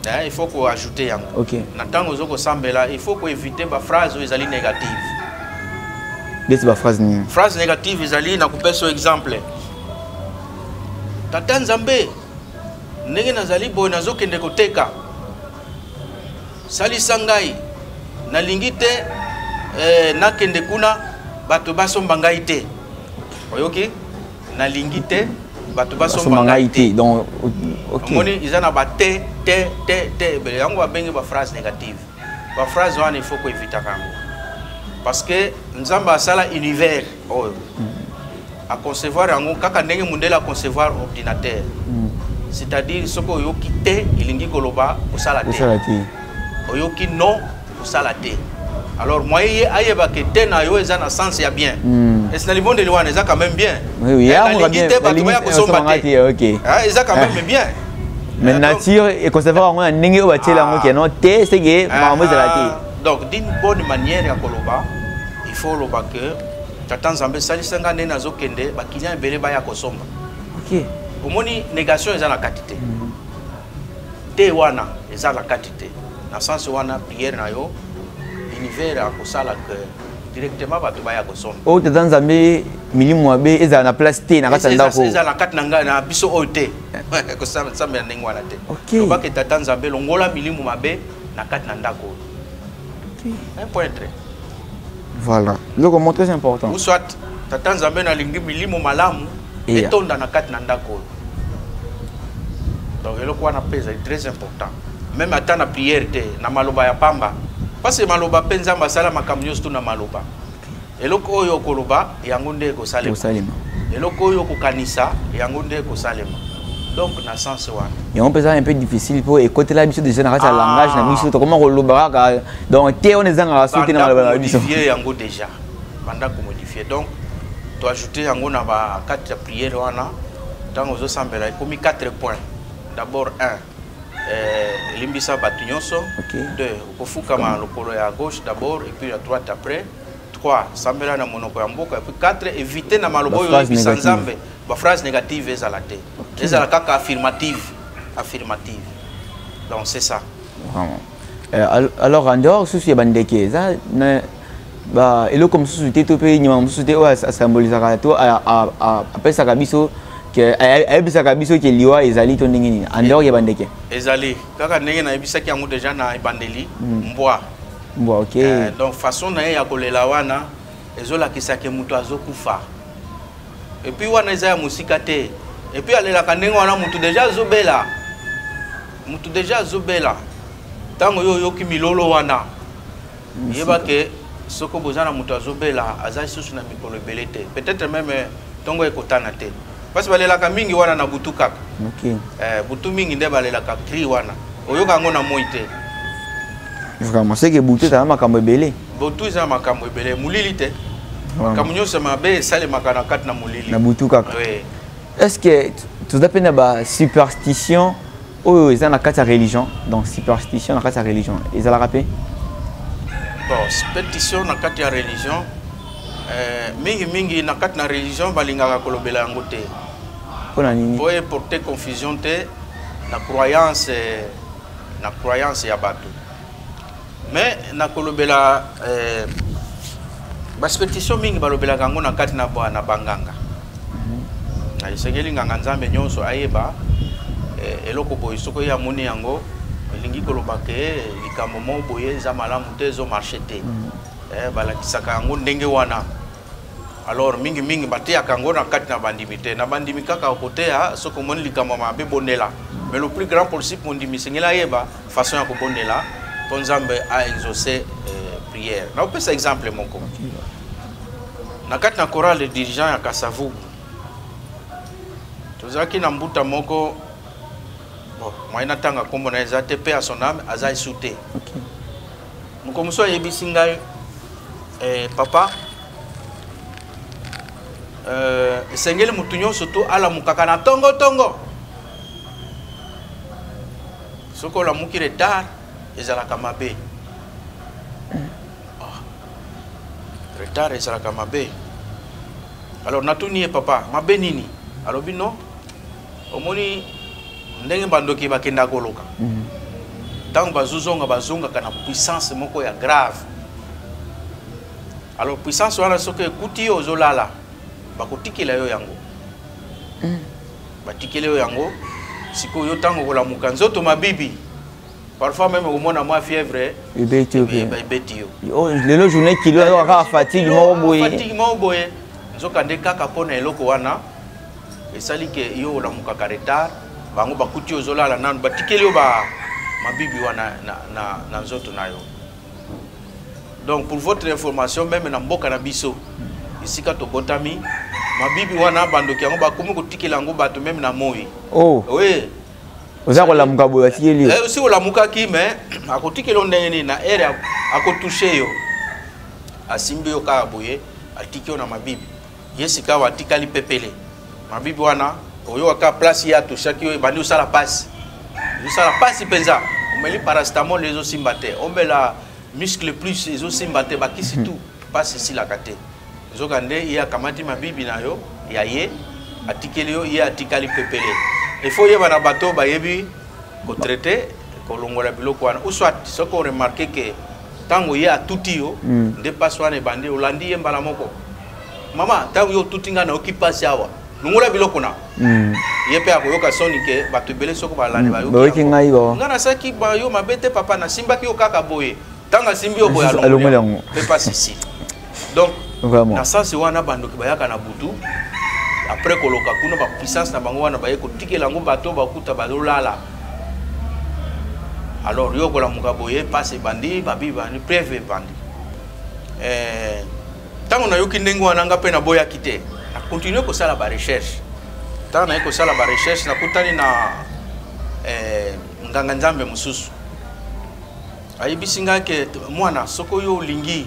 eh, ifo koajoute yango okay. na ntango ozo kosambela ifo koevite baphrase oyo ezali négative ndeti baphrase nini phrase négative ezali na kopesa yo exemple tata nzambe ndenge nazali boye nazokende koteka Salisa ngai. Nalingi te eh, nakende kuna bato basomba ngai te. Oyoki? Nalingi te bato basomba ngai te. Donc OK. Omoni iza na ba te te te te ebele yango babengi ba phrase négative. Ba phrase wana il faut ko éviter kango. Parce que Nzambe asala univers oyo a concevoir yango kaka ndenge mundele a concevoir ordinateur mm. c'est-à-dire soki oyoki te elingi koloba osala te oyoki non osala te alors moi ye ayebake te na yo eza na sens ya bien mm. esi na libondeli wana eza quand même bien eh, nalingi te bato baya kosomba te ah, eza quand même ah. bien mais eh, nature econcevoir yango na ndenge oyo batiela yango ah. keno te seke makambo ezala te donc d'une bonne manière ya koloba il faut oloba que tata nzambe salisa nga nde nazokende bakilian ebele baya kosomba okay. omoni négation eza na kati te mm. te wana eza na kati te na sens wana prière na yo univers akosala que directement bato baya kosomba oyo oh, tata nzambe milimo mabe ezala na place te na kati ya ndako eza na kati na ngai na biso oyo te kosambela ndenge wana te lobaka tata nzambe longola milimo mabe na kati na ndako oyo un pointre voilà ndeko mo très important ou soit tata nzambe nalingi milimo malamu etonda na kati na ndako oyo donc eloko wana mpe ezali très important meme ata na prière te na maloba ya pamba parce que maloba mpe nzambe asala makambo nyonso to na maloba Eloko oyo okoloba yango nde ekosalema. Eloko oyo okokanisa yango nde ekosalema. Donc na sens wana. Yango mpe eza un peu difficile mpo ekotela biso déjà na kati ya ah. langage na biso tokoma koloba kaka donc te wana ezangaka soki te na maloba na biso. Modifie yango déjà. Banda komodifie donc to ajouter yango na ba kati ya prière wana ntango ozosambela ekomi 4 points d'abord 1 elimbisa eh, bato nyonso deux okofukama lokolo ya gauche d'abord et puis ya droite après 3 sambela na monoko ya mboka puis 4 éviter na maloba oyo oyebisa nzambe baphrase négative ezala te ezala kaka affirmative affirmative donc c'est ça vraiment euh, alors en dehors susu ya bandeke eza ba eloko mosusu te to mpe nyama mosusu te oyo asambolisaka to apesaka biso ayebisaka biso ke liwa ezali to ndenge nini andor ya bandeke ezali kaka ndenge nayebisaki yango deja na ebandeli hmm. mbwa bon, ok euh, donc façon na ye ya kolela wana ezolakisa ke moto azokufa epuis wana eza ya mosika te epuis alelaka ndenge wana moto deja azobela moto deja azobela ntango yo oyoki milolo wana yeba ke soko boza na moto azobela aza lisusu na mikolo ebele te peut-être meme ntongo ekotana te Parce balelaka mingi wana na butu kaka. Okay. Eh, butu mingi nde balelaka cri wana. Oyoka yango na moi te. Vraiment, c'est que butu ezala makambo ebele. Butu ezala makambo ebele, molili te. Makambo nyonso mabe esalemaka na kati na molili. Na butu kaka. Oui. Est-ce que toza mpe na ba superstition oyo eza na kati ya religion donc superstition na kati ya religion ezalaka mpe bon superstition na kati ya religion eh, mingi mingi na kati na religion balingaka kolobela yango te mpo na nini mpo eporte confusion te na croyance na croyance ya bato mais nakolobela eh, basuperstition mingi balobelaka yango na kati na banganga na esengeli nganga nzambe nyonso ayeba eh, eloko boye soki oye amoni yango elingi koloba ke eh, likambo moko boye eza malamu te ezo marche te mm. eh, balakisaka yango ndenge wana alors mingimingi bateyaka yango na kati na bandimi te na bandimi kaka okoteya soki omoni likambo mabe bondela mais le plus grand possible mondimi esengeli ayeba Façon ya kobondela mpo Nzambe a exauce euh, prière. Nakopesa exemple moko na kati na chorale de dirigeant ya Kasavubu tozalaki na mbuta moko bon, moyen natanga nkombo na ye eza te mpe ya son ame aza esu te okay. moko mosusu ayebisi ngai eh, papa euh, esengeli motu nyonso to alamukaka na tongotongo soki olamuki retard ezalaka mabe oh. retard ezalaka mabe alors natuni ye papa mabe nini alobi no omoni ndenge bandoki bakenda koloka mhm. ntango bazozonga bazongaka na puissance moko ya grave alors puissance wana soki ekuti yo ozolala bakotikela yo yango mhm. batikeli yo yango sikoyo yo ntango okolamuka nzoto mabibi parfois meme okomona mwa fièvre ebeti yo oh, lelo journée kilo ayoka kaka fatigue moko boyefatigue moko boye nzoka nde kaka mpo na eloko wana esali ke yo olamukaka retard bango bakuti ozolala nanu batikeli yo ba mabibi wana na, na, na nzoto na yo donc pour votre information meme na mboka na biso esika tobotami mabibi wana bandoki yango bakomi kotikela yango bato meme na moi oh. oui oza kolamuka boye atikeli eh, osi olamukaki mais akotikeli yo ndenge nini na aire akotouche yo asimbi yo kaka boye atiki yo na mabibi ye sikawa atikali pepele mabibi wana oyoka kaka place ye atushaki yo ebandi osala mpasi ezosala mpasi mpenza omeli parastamol ezosimba te omela muscle plus ezosimba te bakisi hmm. tu mpasi esilaka te nzoka nde ye akamati mabibi na yo ya ye atikeli yo ye atikali pepele efo oyeba na bato oyo bayebi kotraite kolongola biloko wana ou soit soki oremarke ke ntango ye atuti yo hmm. nde mpasi wana ebandi olandi ye mbala moko mama ntango yo otuti ngai nayoki mpasi awa longola biloko na hmm. ye mpe akoyoka soni ke bato ebele soko balandi hmm. bayoki ngai bao ngai nasalaki bayo mabe te papa nasimbaki yo kaka boye ntango asimbi yo boye alongoli yango mpe mpasi si donc na sense wana bandoki bayaka na butu après koloka kuna bapuissance na bango wana baye kotikela yango bato bakuta bazolala alors yo okolamuka boye mpasi ebandi babi bandi preve ebandi eh, ntango nayoki ndenge wana nga mpe naboyaki te na continue kosala barecherche ntango naye kosala barecherche nakutani na eh, nganga nzambe mosusu ayebisi ngai ke mwana soki oyo olingi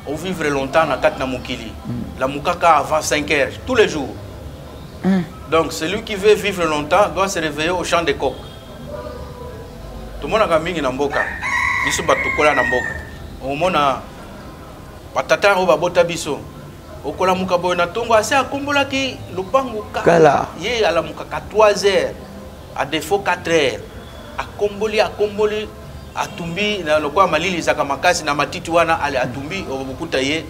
ovivre longtemps na kati na mokili mm. lamukaka avant 5 heures tous les jours mm. donc celui qui veut vivre longtemps doit se réveiller au champ de coq tomonaka mingi na mboka biso bato tokola na mboka omona Ba tata oyo babota biso. Okolamuka boye na tongo ase akombolaki lopango kala. Ye alamuka 3 heures. A défaut 4 heures. Akomboli akomboli atumbi na lokola malili ezaka makasi na matiti wana ale atumbi okokuta ye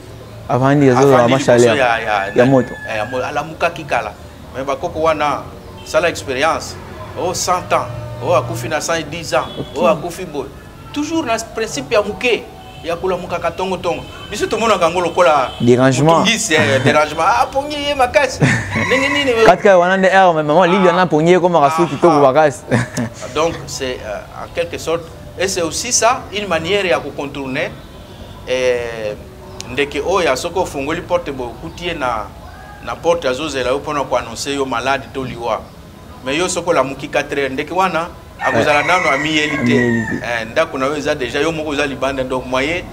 avandi azozala mashale ya, ya, ya, ya moto eh, alamukaki kala me bakoko wana sala expérience o oh, 100 ans o oh, akufi na 110 ans o oh, akufi boye toujours na principe ya moke ya kolamukaka tongotongo biso tomonaka yango lokola dérangement eh, dérangement apongi ah, ye makasi ndenge nini katika wana nde aire mais maman lili wana apongi ye komaka soki kitoko makasi donc c'est euh, en quelque sorte et c'est aussi ça une manière ya kocontourner eh, ndeke oyo ya soki ofungoli porte boye okuti ye na, na porte azozela yo mpona koannonce yo malade to liwa mais yo soki olamuki 4 heure ndeke wana akozala nano amiyeli te eh, ndako na yo eza deja yo moko oza libanda donc moyen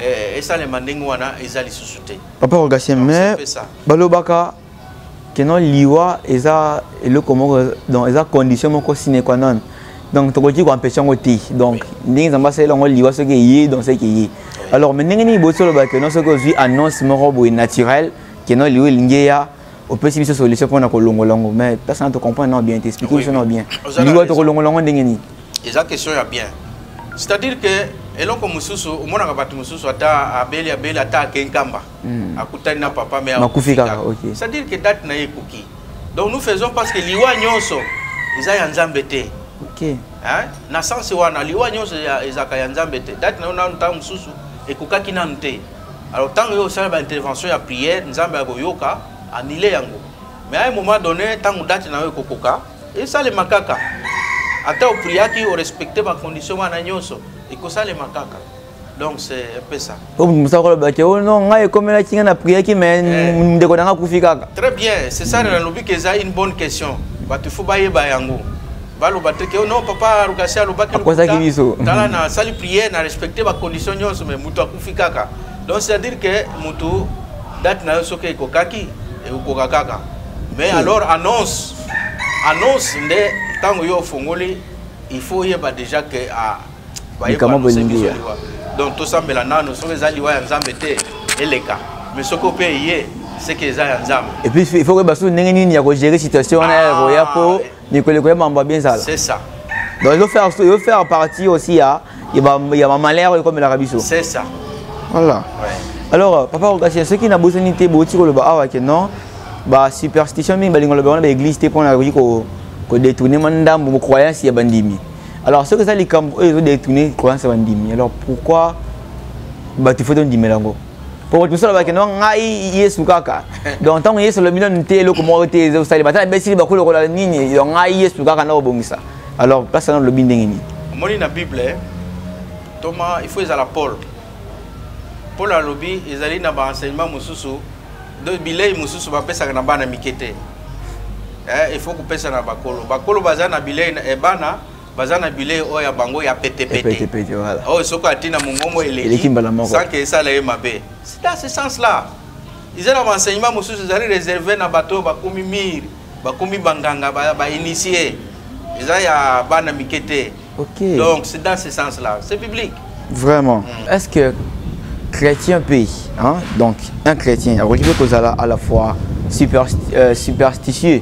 eh, esalema ndenge wana eza lisusu te papa rogatien mais balobaka keno liwa eza eloko moko donc eza condition moko sine qua non donc tokoki koempeshe yango te donc ndenge nzambe asalela yango liwa soki eye donc soki eye alors mais ndenge nini botoloba keno soki ozwi annonce moko boye naturel keno liwa elingi eya opesi biso solution mpona kolongola yango mais place na tocomprendre nao bien te explike biso nao bien liwa tokolongola yango ndenge nini eza question ya bien c'est-à-dire que eloko mosusu omonaka bato mosusu ata abeli abeli ata ake nkamba hmm. akutani na papa me akufi kaka c'est-à-dire que date na ye ekoki donc nous faisons parce que liwa nyonso eza ya nzambe te okay. hein? na sense wana liwa nyonso ezalaka ya nzambe te date na yo nanu ntango mosusu ekokaki nanu te alors ntango yo osala baintervention ya prière nzambe akoyoka anile yango mais à un moment donné ntango date na yo ekokoka esalema kaka ata opriaki orespecte bacondition wana nyonso ekosalema kaka donc c'est un peu ça po mosaka koloba ke o oh non ngai ekomelaki ngai na priaki mais eh. ndeko na ngai akufi kaka très bien c'est ça nalobi ke eza une bonne question bato fo bayeba yango baloba te ke oh non papa rugasi alobaki akozaki biso tala na sali prière na respecte bacondition nyonso me motu akufi kaka donc c'est à dire ke motu date na yo soki ekokaki ekokoka kaka mais hmm. alors annonce annonce nde ntango yo ofongoli il faut oyeba déjà ke ah, bayekama bolingi donc tosambela nano soki eza liwa ya nzambe te eleka mais soki ope eye seke eza ya nzambe epuis il faut koyeba soki ndenge nini ya kogere situation wana ya koya mpo ah, mikolo ekoya mambo ya benzala c'est ça donc yo faire yo faire partie aussi ya ya ba ya ba malheur yo komelaka biso c'est ça voilà ouais. alors euh, papa okasi soki na bosani te boti koloba awa ke non ba superstition mingi balingo loba wana ba église te pona koki ko ko détourner mandambo croyance ya bandimi alors soki eza likambo oyo ezo détourner croyance ya bandimi alors pourquoi bato fo tondimela yango po mosusu alobaki no ngai yesu kaka donc ntango yesu alobi nanu te eloko moko te eza kosalema ata nabesili bakulu lokola nini donc ngai yesu kaka nakobongisa alors place wana olobi ndenge nini omoni na bible toma il faut ezala paul paul alobi ezali na baenseignement mosusu bilei mosusu bapesaka na bana mike te eh, il faut kopesa na bakolo bakolo baza na bilei eh, bana baza na bilei oyo ya bango ya petepete oyo soki ati na mongongo eleki sanke esala ye mabe sida ce sens là eza na baenseignement mosusu ezali réserve na bato oyo bakomi mire bakomi banganga bainitie ba eza ya bana mike te okay. donc c'est dans ce sens là c'est biblique vraiment mm. est ce que chrétien mpe hein? donc un chrétien akoki mpe kozala à la fois supersti euh, superstitieux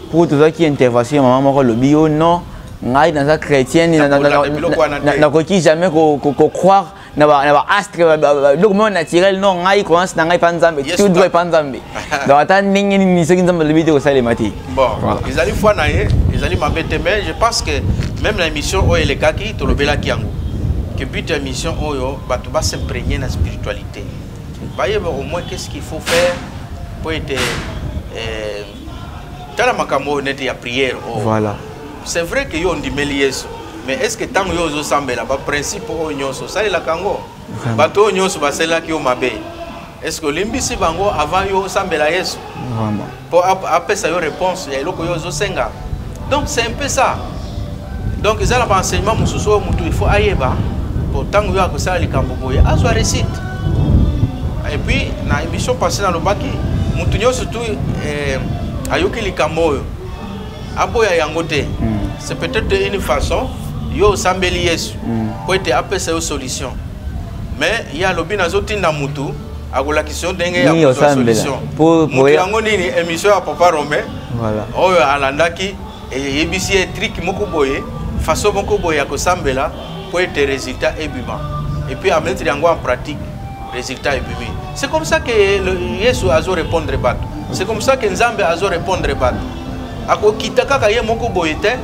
mpo tozwaki intervention ya mama moko alobi yo non ngai naza chrétienne nakoki jamais kocroire na baastre biloko moko naturel non ngai croyance na ngai epa nzambe tout droit epa nzambe donc ata ndenge nini soki nzambe alobi te kosalema te ezali foi na ye ezali mabe te mais je pense que même na émission oyo elekaki tolobelaki yango que but ya émission oyo bato basimprégner na spiritualité bayeba au moins qu'est ce qu'il faut faire mpo ete eh, tala makambo oyo neti ya prière oyo oh. voilà c'est vrai que yo ondimeli yesu mais est ce que ntango yo ozosambela baprincipe oyo nyonso osalelaka yango bato oyo nyonso basalelaki yo mabe est ce que olimbisi bango avant yo osambela yesu mpo apesa yo réponse ya eloko yo ozosenga donc c'est un peu ça donc eza na baenseignement mosusu oyo motu ilfaut ayeba po ntango yo akosala likambo boye azwa récite epuis na émission passé nalobaki motu nyonso tu eh, ayoki likambo oyo aboya yango te hmm. c'est peut-être une façon yo osambeli yesu hmm. mpo ete apesa yo solution mais ye alobi nazotinda motu akolakisa yo ndenge ya kozwa solution motu yango nini émission ya papa rome oyo alandaki eyebisi ye trike moko boye faso moko boye ya kosambela mpo ete résultat ebima epuis ametre yango en pratique résultat ebimi c'est comme ça que yesu azo répondre bato c'est comme ça que nzambe azo répondre bato akokita kaka ye moko boye te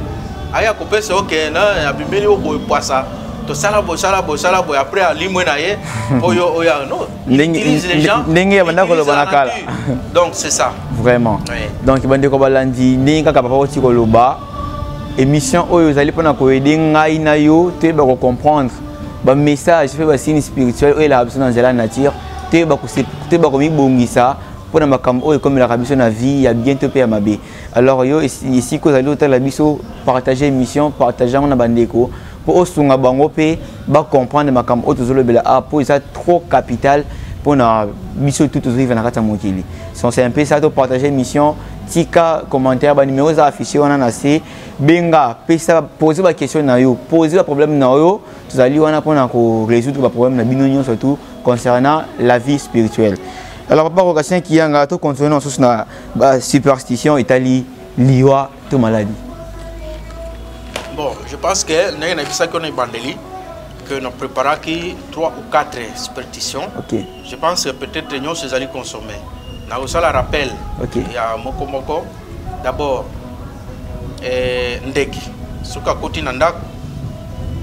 aya kopesa yo ke na abimeli yo boye pwasa tosala bosala bosala boye après alimwe na ye mpo yo oya no ndenge abanda koloba na kala donc c'est ça vraiment oui. donc bandeko balandi ndenge kaka papa oti koloba émission oyo ezali mpona koyede ngai na yo toyeba kocomprendre bamessage mpe basini spirituel oyo elaka biso na nzela ya nature toyeba komibongisa mpo na makambo oyo ekomelaka biso na vie ya bien to mpe ya mabe alors yo esika ozali otala biso partage émission partage yango na bandeko mpo osunga bango mpe bacomprendre makambo oyo tozolobela awa mpo eza trop capital mpo na biso tout tozovivre na kati ya mokili sonse un peu ça topartage mission tika commentaire banimero eza affiche wana na se benga pesa pose baquestion na yo pose baproblème na yo tozali wana mpo na korésoudre baproblème na bino nyonso tout concernant la vie spirituelle alors papa rokasien kiyanga tocontinue na mosusu na basuperstition etali liwa to maladi bon je pense que ndenge nayebisaki yo na ebandeli que na préparaki 3 ou 4 supertition okay. je pense que peut-être nyonso ezali consommé nakosala rappel okay. ya moko moko d'abord eh, ndeke soki akoti na ndako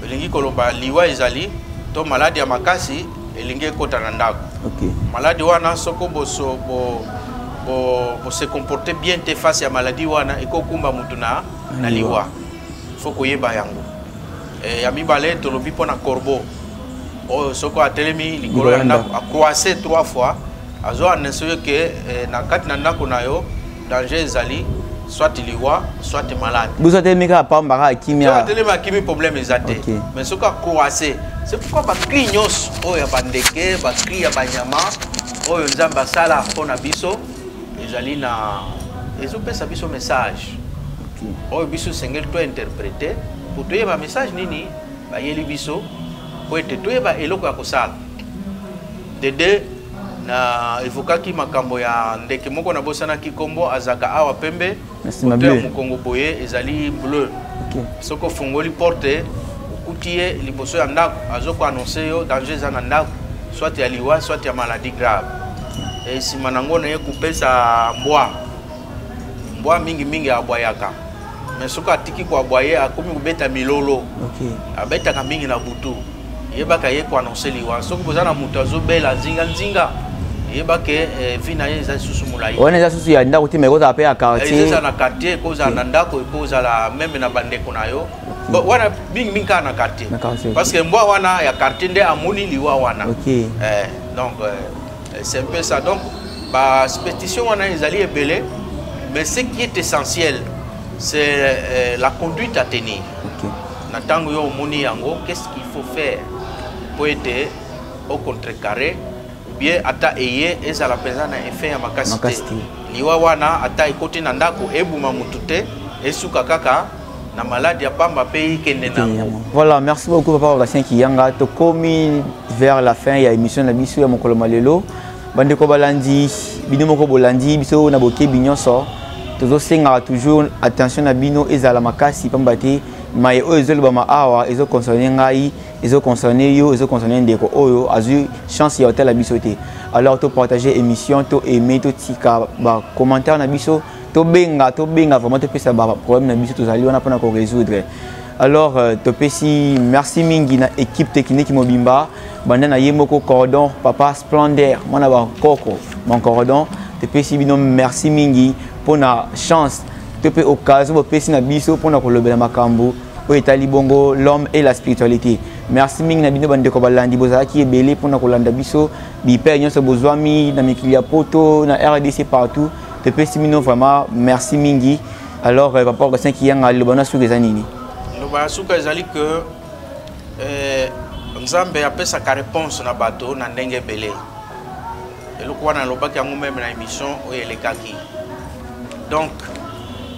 elingi koloba liwa ezali to maladi ya makasi elingi ekota na ndako okay. maladi wana soko boso bo, bo, bo se comporte bien te face ya maladi wana ekokumba motu na, na liwa fo koyeba yango e, ya mibale tolobi mpo na corbeau oyo soko atelemi likolo ya ndako akwase trois fois azo annonce yo ke eh, na kati na ndako na yo danger ezali soit liwa soit malade bozo atelemi kaka pamba kaka kimia atelemi akimi problème eza te mais soki akoase c'est pourquoi bacri nyonso oyo ya bandeke bacri ya banyama oyo nzambe asala mpo na biso ezali na ezopesa biso message oyo biso esengeli tointerprete mpo toyeba message nini bayeli biso mpo ete toyeba eloko ya kosala de deux na evokaki makambo ya ndeke moko na bosana kikombo azaka awa pembe kote ya mokongo boye ezali bleu okay. soki ofungoli porte okuti ye liboso ya ndako azokoannonce yo danger eza na ndako soit ya liwa soit ya maladie grave e nsima na yango naye kopesa mbwa mbwa mingimingi abwayaka mais soki atiki koabwa ye akomi kobeta milolo okay. abetaka mingi na butu yebaka ye ko annoncer liwa soki boza na moto azobela nzinga nzinga yeba ke eh, vie na ye eza lisusu molai wana eza susu ya ndako te ma ekozala mpe ya quartiereza eh, na quartier ekozala na ndako ekozala meme na bandeko na yo wana mingi mingi kaka na quartier parce que mbwa wana ya quartier nde amoni liwa wana eh, donc c'est un peu ça donc basuperstition wana ezali ebele mais ce qui est essentiel c'est la conduite à tenir na ntango yo omoni yango qu'est-ce qu'il faut faire mpo ete au contrecarre bien ata eye ezala mpenza na effet ya makasi te liwa wana ata ekoti na ndako ebuma motu te esuka kaka na maladi ya pamba mpe ikende nango voilà merci beaucoup papa babastien kiyanga tokomi vers la fin ya émission na biso ya mokolo ma lelo bandeko balandi bino moko bolandi biso na bokebi nyonso tozosengaka toujours attention na bino ezala makasi pamba te maye oyo ezolobama awa ezo concerne ngai ezo concerne yo ezo concerne ndeko oyo azwi chance ya kotala biso te alors topartage émission to aime totika bacommentaire na biso tobenga tobenga vraiment topesa baproblème na biso tozali wana mpona korésoudre alors euh, topesi merci mingi na équipe technique mobimba banda na ye moko cordon papa splendeur mwana bankoko mon cordon topesi bino merci mingi mpona chance to mpe occasion bopesi na biso mpona kolobela makambo oyo etali bongo l'homme et la spiritualité merci mingi na bino bandeko balandi bozalaki ebele mpona kolanda biso bipere nyonso bozwami na mikili ya poto na rdc partout topesi bino vraiment merci mingi alors euh, papa augustin kiyanga liloba na suka eza nini liloba ya suka ezali ke euh, nzambe apesaka réponse na bato na ndenge ebele eloko wana alobaki yango meme na émission oyo elekaki donc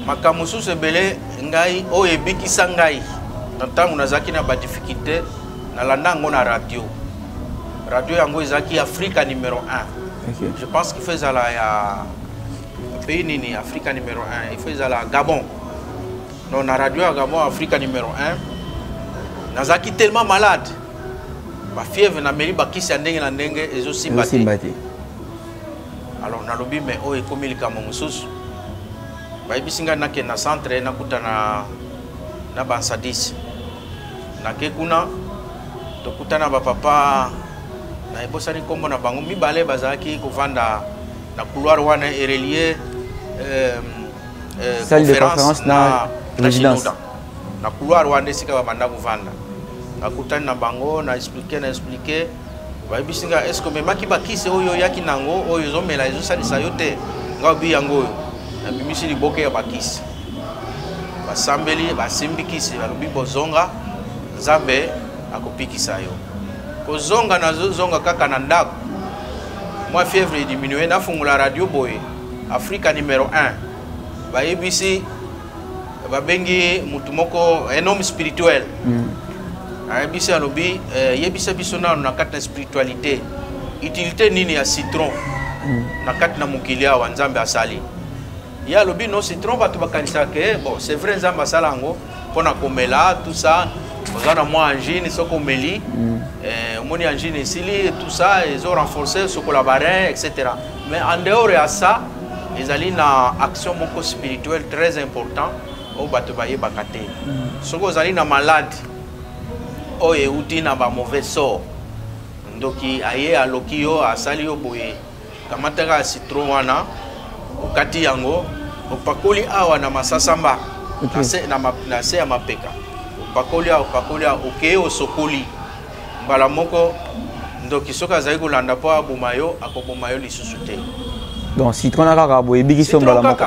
makambo mosusu ebele ngai oyo ebikisa ngai na ntango nazalaki na badifficulté nalanda yango na radio radio yango ezalaki afrika numero 1 okay. je pense qu'il faut ezala ya pays nini afrika numero 1 il faut ezala gabon non na radio ya gabon afrika numero 1 nazalaki tellement malade bafièvre nameli bakisi ya ndenge na ndenge ezosimba te alors nalobi mais oyo ekomi likambo mosusu bayebisi ngai nakende na centre nakutana na bansadis nake kuna tokutana bapapa na ebosani nkombo na bango mibale bazalaki kovanda na couloir wana erelie euh, euh, conférence na, na, na na couloir wana esika babanda kovanda nakutani na bango na explike na explike bayebisi nga eske omemaki bakisi oyo oyaki na yango oyo ezomela ezosalisa yo te nga obi yango oyo nabimisi liboke ya bakisi basambeli basimbi kisi balobi bozonga nzambe akopikisa yo kozonga nazozonga kaka na ndako mwa fièvre ediminue nafungola radio boye afrika numero 1 bayebisi babengi motu moko un homme spirituel mm. ayebisi alobi eh, yebisa biso nano na kati na spiritualité utilité nini ya citron mm. na kati na mokili awa nzambe asali ye alobi no citron bato bakanisaka ke bon c'est vrai nzambe asala yango mpo na komela tout ça oza na mwa angine soki omeli mm. eh, omoni angine esili tout ça ezo renforcer sokola barin etc Mais en dehors ya ça, ezali na action moko spirituelle très important oyo bato bayebaka te. Hmm. Soki ozali na malade oyo euti na ba mauvais sort, ndoki aye aloki yo asali yo boye, kamataka citron wana okati yango opakoli awa na masasamba na se ya mapeka opakoli awa opakoli awa okeye osokoli mbala moko ndoki soki azali kolanda mpo aboma yo akoboma yo lisusu te donc citron na kaka boye ebikisi yo mbala moko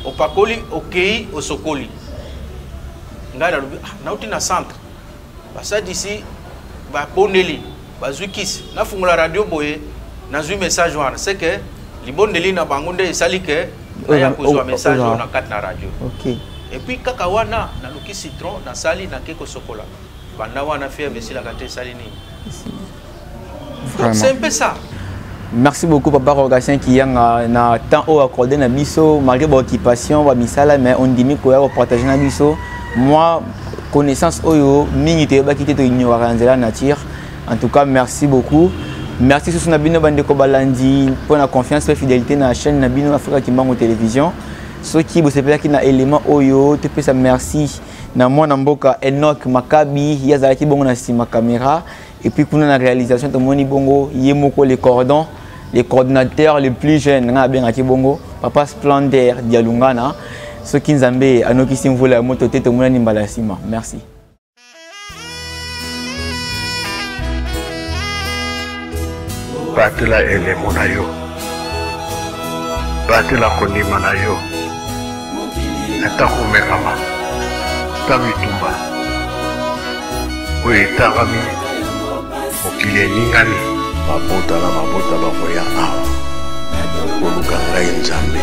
opakoli okei osokoli ngai nalobi ah, nauti na centre basadisi babondeli bazwi kisi nafungola radio boye nazwi message wana se ke libondeli na bango nde esali ke naya kozwa message oyo na kati na radio okay. epuis kaka wana naluki citron nasali nake kosokola banda wana fièvre esilaka te esali nini c'est un peu ça merci beaucoup papa rogatien kiyanga na temps oyo accordé na biso malgré baoccupation bamisala mais ondimi koya kopartage na biso moi connaissance oyo mingi toyebaki te toignoraka na nzela nature en tout cas merci beaucoup merci susu na bino bandeko balandi mpo na confiance mpe fidélité na chaîne na bino afrika kimbango télévision soki bosepelaki na élément oyo topesa merci na mwana mboka Enoch Makabi ye azalaki bongo na nsima caméra et puis kuna na réalisation tomoni bongo ye moko le cordon le coordinateur le plus jeune ngai abengaki bongo papa splendeur dialungana soki nzambe anokisi mvula ya moto te tomonani mbala ya nsima merci batela elemo na yo batela kondima na yo ata komekama ata bitumba oyo etangami mokili eningani mabota na mabota bakoya awa koluka ngai nzambe